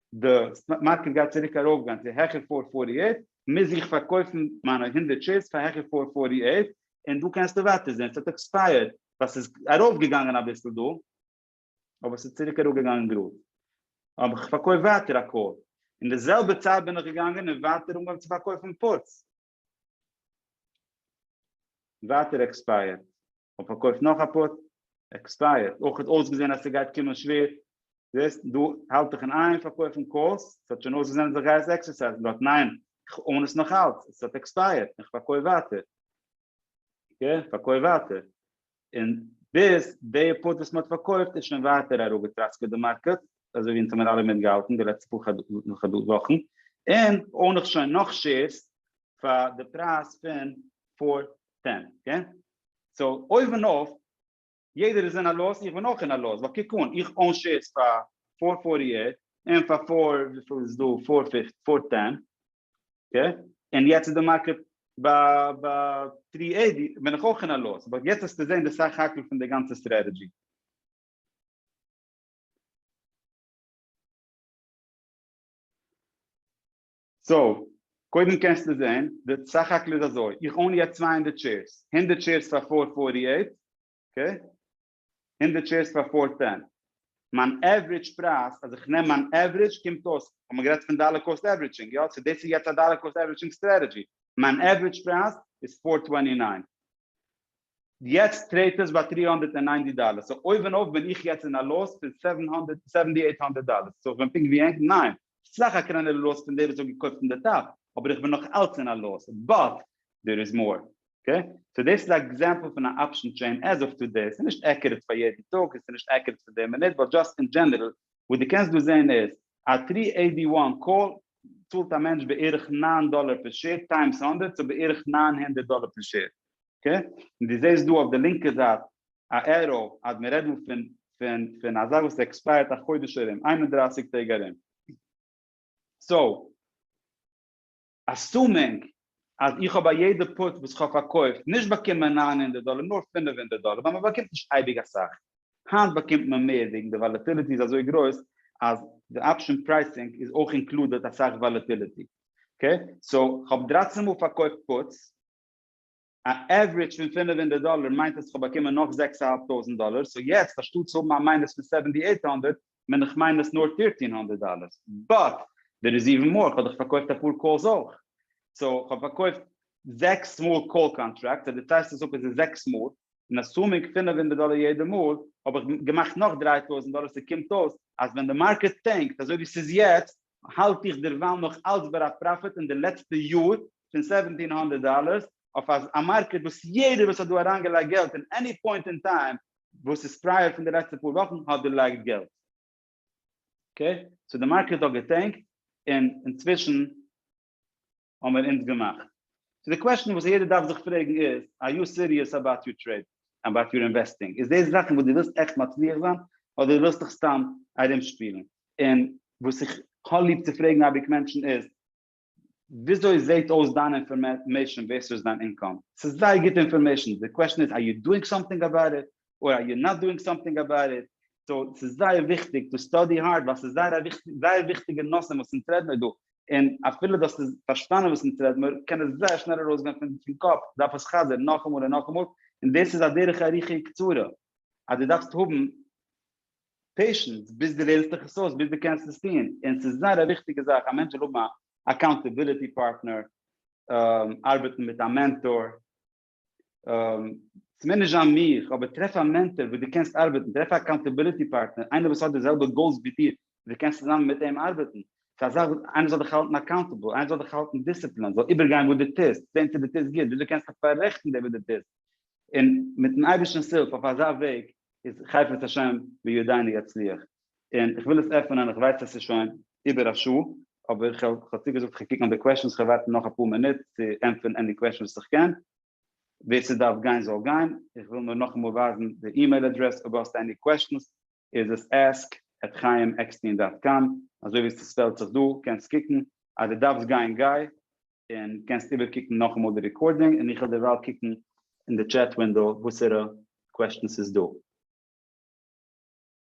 די סטאק מארקעט גייט צוריק ארויפגיין צו העכער פֿיר הונדערט פֿארטי אַכט, מוז איך פארקויפן מיינע הונדערט שעירס פאר העכער פֿיר הונדערט פֿארטי אַכט, און דא קענסטו ווייטער זען ס'האט עקספייערט, ווייל ס'איז ארויפגעגאנגען אביסל דא, אבער ס'איז צוריק אראפגעגאנגען גראד, האב איך פארקויפט ווייטער א קאל, אין די זעלבע צייט בין איך געגאנגען און ווייטער אנגעהויבן צו פארקויפן פוטס, ווייטער עקספייערט, כ'האב פארקויפט נאך א פוט, עקספייערט, אויך האט אויסגעזען אז ס'גייט קומען שווער, זעסט דא האלט איך אין איין פארקויפן קאלס, ס'האט שוין אויסגעזען אז איך גיי עס עקסערסייזן דארט, ניין, איך אן עס נאכאלץ, עס האט עקספייערט, איך פארקויף ווייטער, אקעי, פארקויף ווייטער, און ביז די פוט וואס מ'האט פארקויפט איז שוין ווייטער אראפגעטראסקעט די מארקעט, אזוי ווי אונז האמיר אלע מיטגעהאלטן די לעצטע פאר וואכן, און אוןך שוין נאך שעירס פאר די פרייז פון פאר טען, אקעי? סאו אויבן אויף, יעדער איז אין א לאס, איך בין אויך אין א לאס, ווייל קוק אן, איך און שעירס פאר פאר פארטי עיט, און פאר פאר וויפיל איז דא פאר פֿופֿצן, פאר טען, אקעי? און יעצט איז די מארקעט ביי ביי טרי עיטי בין איך אויך אין א לאס, באט יעצט וועסטו זען די סך הכל פון די גאנצע סטרעטעדזשי. סאו, קודם קענסטו זען, די סך הכל איז אזוי, איך אוין יעצט צוויי הונדערט שעירס, הונדערט שעירס פאר פאר פארטי עיט, אקעי? הונדערט שעירס פאר פאר סענט. מיין עוורידזש פרייז, אז איך נעם מיין עוורידזש, קומט אויס, כ'האב מיר גערעדט פון דאלער קאסט עוורידזשינג, יא, סאו דאס איז יעצט א דאלער קאסט עוורידזשינג סטרעטעדזשי, מיין עוורידזש פרייז איז פאר טווענטי ניין, יעצט טרעיד עס ביי טרי הונדערט און ניינטי דאלער, סאו אויבן אויף בין איך יעצט אין א לאס פון סעווען הונדערט, סעווענטי עיט הונדערט דאלער, סאו איך בין פונקט ווי ענק? ניין, ס'איז סאך א קלענערע לאס פון די וואס האט געקויפט אין די טאפ, אבער איך בין נאך אלץ אין א לאס, באט דער איז מאור, אקעי? סאו דאס איז א עקזעמפל פון א אפשען טרעין עז אוו טודעי, ס'איז נישט עקוראט פאר יעדן טאג און ס'איז נישט עקוראט פאר די מינוט, באט דזשאסט אין דזשענערל, וואס דו קענסט דא זעהן איז, א טרי עי די וואן קאל צאלט א מענטש בערך נײַן דאלער פער שעיר טיימס הונדערט, סאו בערך נײַן הונדערט דאלער פער שעיר, אקעי? און דו זעהסט דא אויף די לינקע זייט א עראו אז מען רעדט דא פון פון פון א זאך וואס עקספייערט א חודש ארום, איין און דרײַסיק טעג ארום. סאו. אסומינג אז איך האב ביי יעדע פוט וואס איך האב פארקויפט נישט באקומען נײַן הונדערט דאלער נאר פֿינף הונדערט דאלער ווייל מען באקומט נישט אייביג אסאך, היינט באקומט מען מער וועגן די וואלעטיליטי איז אזוי גרויס אז די אפשען פרייסינג איז אויך אינקלודעט אסאך וואלעטיליטי, אקעי סאו כ'האב דרײַצן מאל פארקויפט פוטס. א עוורידזש פון פֿינף הונדערט דאלער מיינט אז כ'האב באקומען נאך זעקס א האלב טויזנט דאלער, סאו יעצט אנשטאט צו האבן א מיינוס פון סעווענטי עיט הונדערט בין איך מיינוס נאר פירטין הונדערט דאלער, באט דער איז איווען מאר, כ'האב דאך פארקויפט אפאר קאלס אויך, סאו כ'האב פארקויפט זעקס מאל קאל קאנטראקטס, אז דו טיילסט עס אפ איז עס זעקס מאל, און אסומינג פֿינף הונדערט דאלער יעדע מאל האב איך געמאכט נאך דרײַ טויזנט דאלער, ס'קומט אויס אז ווען די מארקעט טענקט אזוי ווי ס'איז יעצט האלט איך דערווייל נאך אלץ ביי א פראפיט אין די לעצטע יאר פון סעווענטין הונדערט דאלער אויף א מארקעט וואס יעדער וואס האט דא אריינגעלייגט געלט אין עני פוינט אין טיים וואס איז פרייער פון די לעצטע פאר וואכן האט דערלייגט געלט. אקעי סאו די מארקעט האט געטענקט און אינצווישן. האבן מיר אונז געמאכט. סאו די קוועשטען וואס יעדער דארף זיך פרעגן איז, אר יו סיריעס אבאוט יור טרעידינג? אבאוט יור אינוועסטינג? איז דאס זאכן וואס דו ווילסט עכט מצליח זיין? אדער ווילסט דיך סתם ארומשפילן? און וואס איך האב ליב צו פרעגן אייביג מענטשן איז, וויאזוי זעהט אויס דיין אינפארמעישאן ווערסוס דיין אינקאם? ס'איז זייער גוטע אינפארמעישאן, די קוועשטען איז, אר יו דואינג סאמטינג אבאוט איט? אר א יור נאט דואינג סאמטינג אבאוט איט, סאו ס'איז זייער וויכטיג טו סטאדי הארד ווייל ס'איז זייער א זייער וויכטיגע נושא וואס אונז רעד מיר דא, און אפילו דו האסט עס פארשטאנען וואס אונז רעד מיר קען עס זייער שנעל ארויסגיין פון קאפ, דארף עס חזר'ן נאכאמאל און נאכאמאל, און דאס איז א דרך ארוכה קצרה אז דו דארפסט האבן פעישענס ביז דו לערנסט דיך עס אויס ביז דו קענסט עס טון, און ס'איז זייער א וויכטיגע זאך א מענטש זאל האבן א אקאונטעביליטי פארטנער, ארבעטן מיט א מענטאר. מענעזש א מיך, אבער טרעף א מענטאר וואס דו קענסט ארבעטן, טרעף א אקאונטעביליטי פארטנער, איינער וואס האט די זעלבע גאולס ווי דיר, און דו קענסט צוזאמען מיט אים ארבעטן, ס'איז א זאך וואס איינער זאל דיך האלטן אקאונטעבל, איינער זאל דיך האלטן דיסציפלינד, זאל איבערגיין וואס דו טוסט, זען צו דו טוסט גוט, וויאזוי קענסט דיך פאררעכטן דעם וואס דו טוסט, און מיט'ן אייבערשטנ'ס הילף אויף אזא וועג איז חפץ השם בידינו יצליח. און איך וויל עס עפענען, איך ווייס עס איז שוין איבער א שעה, אבער איך האב צוגעזאגט איך קוק נאך די קוועשאנס, איך וועל ווארטן נאך אפאר מינוט צו ענטפערן עני קוועשאן וואס איך קען, ווער ס'דארף גיין זאל גיין, איך וויל נאר נאכאמאל ווייזן די אימעיל אדרעס, אויב האסט עני קוועשאנס איז עס ask at chaim eckstein dot com, אזוי ווי ס'ספעלט זיך דא, קענסט קוקן, אז דו דארפסט גיין גיי, און קענסט איבער קוקן נאכאמאל די רעקארדינג, און איך וועל דערווייל קוקן אין די טשעט ווינדאו וואסערע קוועשאנס ס'איז דא.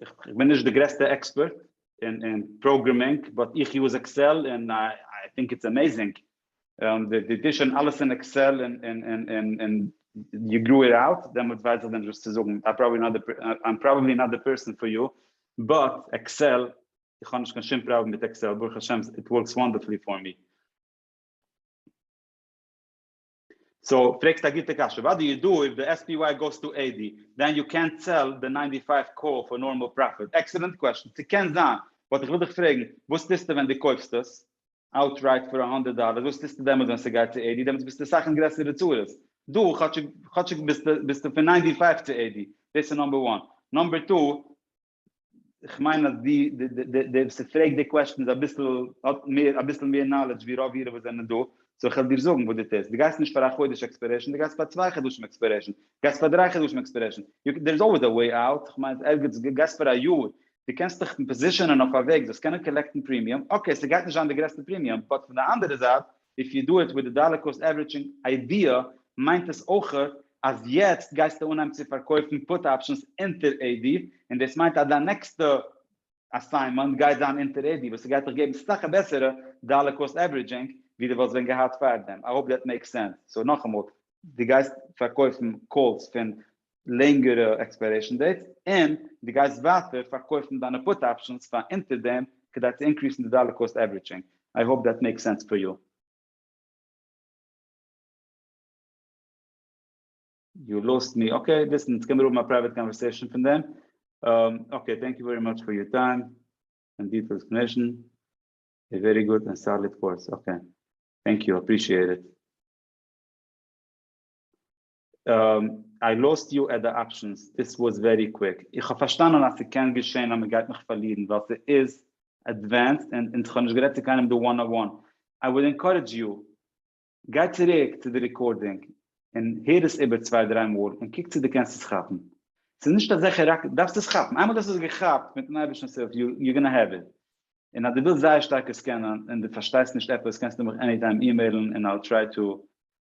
איך בין נישט די גרעסטע עקספערט אין פראגרעמינג באט איך יוז עקסעל און איי טינק איטס אמעזינג, די אדישען אלעס אין עקסעל און יו גרו איט אוט, דעמאלטס ווייס איך נישט וואס צו זאגן, איים פראבעבלי נאט די פערסאן פאר יו, באט עקסעל, איך האב נישט קיין שום פראבלעם מיט עקסעל ברוך השם איט ווארקס וואנדערפולי פאר מי. סאו פרעגסט א גוטע קשיא, וואט דו יו דו איף די SPY גאוס טו AD דען יו קענט סעל די ניינטי פייוו קאל פאר נארמאל פראפיט? עקסעלענט קוועשאן, ס'קען זיין, באט איך וויל דיך פרעגן, וואס טוסטו ווען דו קויפסט עס אוטרייט פאר א הונדערט דאלער, וואס טוסטו דעמאלטס ווען ס'גייט צו AD, דעמאלטס ביסטו אסאך אין גרעסערע צרות, דא כאטשיג ביסטו פון ניינטי פייוו צו AD, דאס איז נאמבער וואן, נאמבער טו, איך מיין אז די די די די וואס פרעגט די קוועשטן איז אביסל האט מער אביסל מער נאלעדזש ווי רוב אירע וואס זענען דא סאו איך העל דיר זאגן וואס דו טוסט דו גייסט נישט פאר א חודש עקספערעשן דו גייסט פאר צוויי חדשים עקספערעשן דו גייסט פאר דריי חדשים עקספערעשן דער איז אלוועיס א וועי אוט איך מיין ערגעץ דו גייסט פאר א יאר דו קענסט דיך פאזישענען אויף א וועג זאלסט קענען קאלעקטן פרימיום אקעי ס'גייט נישט זיין די גרעסטע פרימיום באט פון די אנדערע זייט איף יו דו איט וויט די דאלער קאסט עווערידזשינג איידיע מיינט עס אויך אז יעצט גייסטו אנהייבן צו פארקויפן פוט אפשענס אונטער עי די און דאס מיינט אז דיין נעקסטע אסיינמענט גייט זיין אונטער עי די וואס ס'גייט דיך געבן סאך א בעסערע דאלער קאסט עווערידזשינג ווי די וואלסט ווען געהאט פארדעם, איי האופ דעט מעיקס סענס, סאו נאכאמאל די גייסט פארקויפן קאלס פון לענגערע עקספיירעישן דעיטס, און דו גייסט ווייטער פארקויפן דיינע פוט אפשענס פאר אונטער דעם כדי צו אינקריסן די דאלער קאסט עוורידזשינג, איי האופ דעט מעיקס סענס פאר יו. יו לאסט מי, אקעי ליסן אונז קעמיר האבן א פרייוועט קאנווערסעישן פון דעם, אקעי טענק יו ווערי מאטש פאר יור טיים און דיטעילד עקספלענעישן, א ווערי גוד און סאליד קורס, אקעי טענק יו אפרישיעט איט. איי לאסט יו עט די אפשענס, דיס וואס ווערי קוויק, איך האב פארשטאנען אז ס'קען געשען אז מ'גייט מיך פארלירן ווייל ס'איז עדווענסד און איך האב נישט גערעדט צו קיינעם די וואן אן וואן, איי וואלד ענקארעדזש יו גיי צוריק צו די רעקארדינג און הער עס איבער צוויי דריי מאל און קוק צו די קענסט עס כאפן, ס'איז נישט אזעלכע ראקעט, דארפסט עס כאפן, איינמאל דו האסט עס געכאפט מיטן אייבערשטנ'ס הילף יו גאנא העוו איט, און אז דו ווילסט זייער שטארק עס קענען און דו פארשטייסט נישט עפעס קענסטו מיך עני טיים אימעילן און איי וויל טריי טו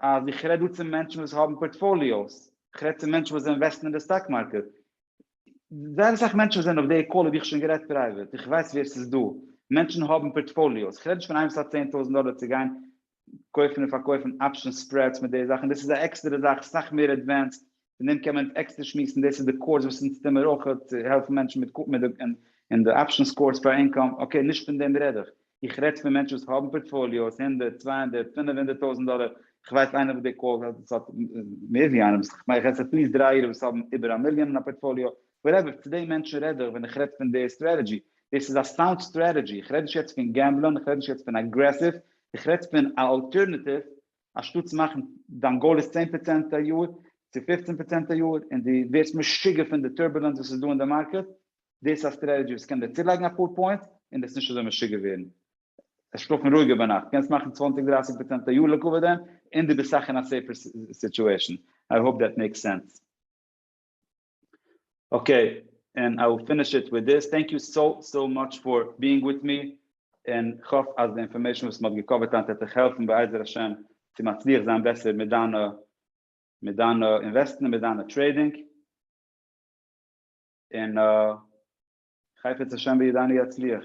אז איך רעד דא צו מענטשן וואס האבן פארטפאליאוס, איך רעד צו מענטשן וואס אינוועסטן אין די סטאק מארקעט, זייער אסאך מענטשן זענען אויף די קאלל האב איך שוין גערעדט פרייוועט, איך ווייס ווער ס'איז דא, מענטשן האבן פארטפאליאוס, איך רעד נישט פון איינער וואס האט צען טויזנט דאלער צו גיין קויפן און פארקויפן אפשען ספרעדס מיט די זאכן, דאס איז א עקסטערע זאך, סאך מער עדווענסד, פון דעם קען מען עקסטער שמועסן, דאס איז די קורס וואס אונז טוען מיר אויך צו העלפן מענטשן מיט קו מ און די אפשענס קורס פאר אינקאם, אקעי נישט פון דעם רעד איך, איך רעד פון מענטשן וואס האבן פארטפאליאוס הונדערט, צוויי הונדערט, פינף הונדערט טויזנט דאלער, איך ווייס איינער וואס די קורס האט וואס האט מער ווי איינער וואס איך מיין איך עס עטליעסט דרײַ אירע וואס האבן איבער א מיליאן אין א פארטפאליאו, וואטעווער, צו די מענטשן רעד איך ווען איך רעד פון די סטרעטעדזשי, דאס איז א סאונד סטרעטעדזשי, איך רעד נישט יעצט פון געמבלען, איך רעד נישט יעצט פון אגרעסיוו, איך רעד פון א אלטערנאטיוו אנשטאט צו מאכן דיין גאול איז צען פראצענט א יאר, צו פופצן פראצענט א יאר, און דו ווערסט משוגע פון די טורבולענס וואס איז דא אין די מארקעט, דאס איז א סטרעטעדזשי וואס קען דיר צולייגן אפאר פוינטס, און דו וועסט נישט אזוי משוגע ווערן. שלאפן רואיגער ביינאכט, קענסט מאכן צוואנציג דרייסיג פראצענט א יאר לעקאווע דעם, און דו ביסט סאך אין א סעיפער סיטועשן. איי האופ דעט מעיקס סענס. אקעי, ענד איי וויל פיניש איט וויט דיס, טענק יו סאו סאו מאטש פאר ביאינג וויט מי, און כ'האף אז די אינפארמעישן וואס מ'האט געקאווערט היינט העט דיך העלפן בעזר השם צו מצליח זיין בעסער מיט דיינע מיט דיינע אינוועסטן און מיט דיינע טרעידינג, און חפץ השם בידינו יצליח.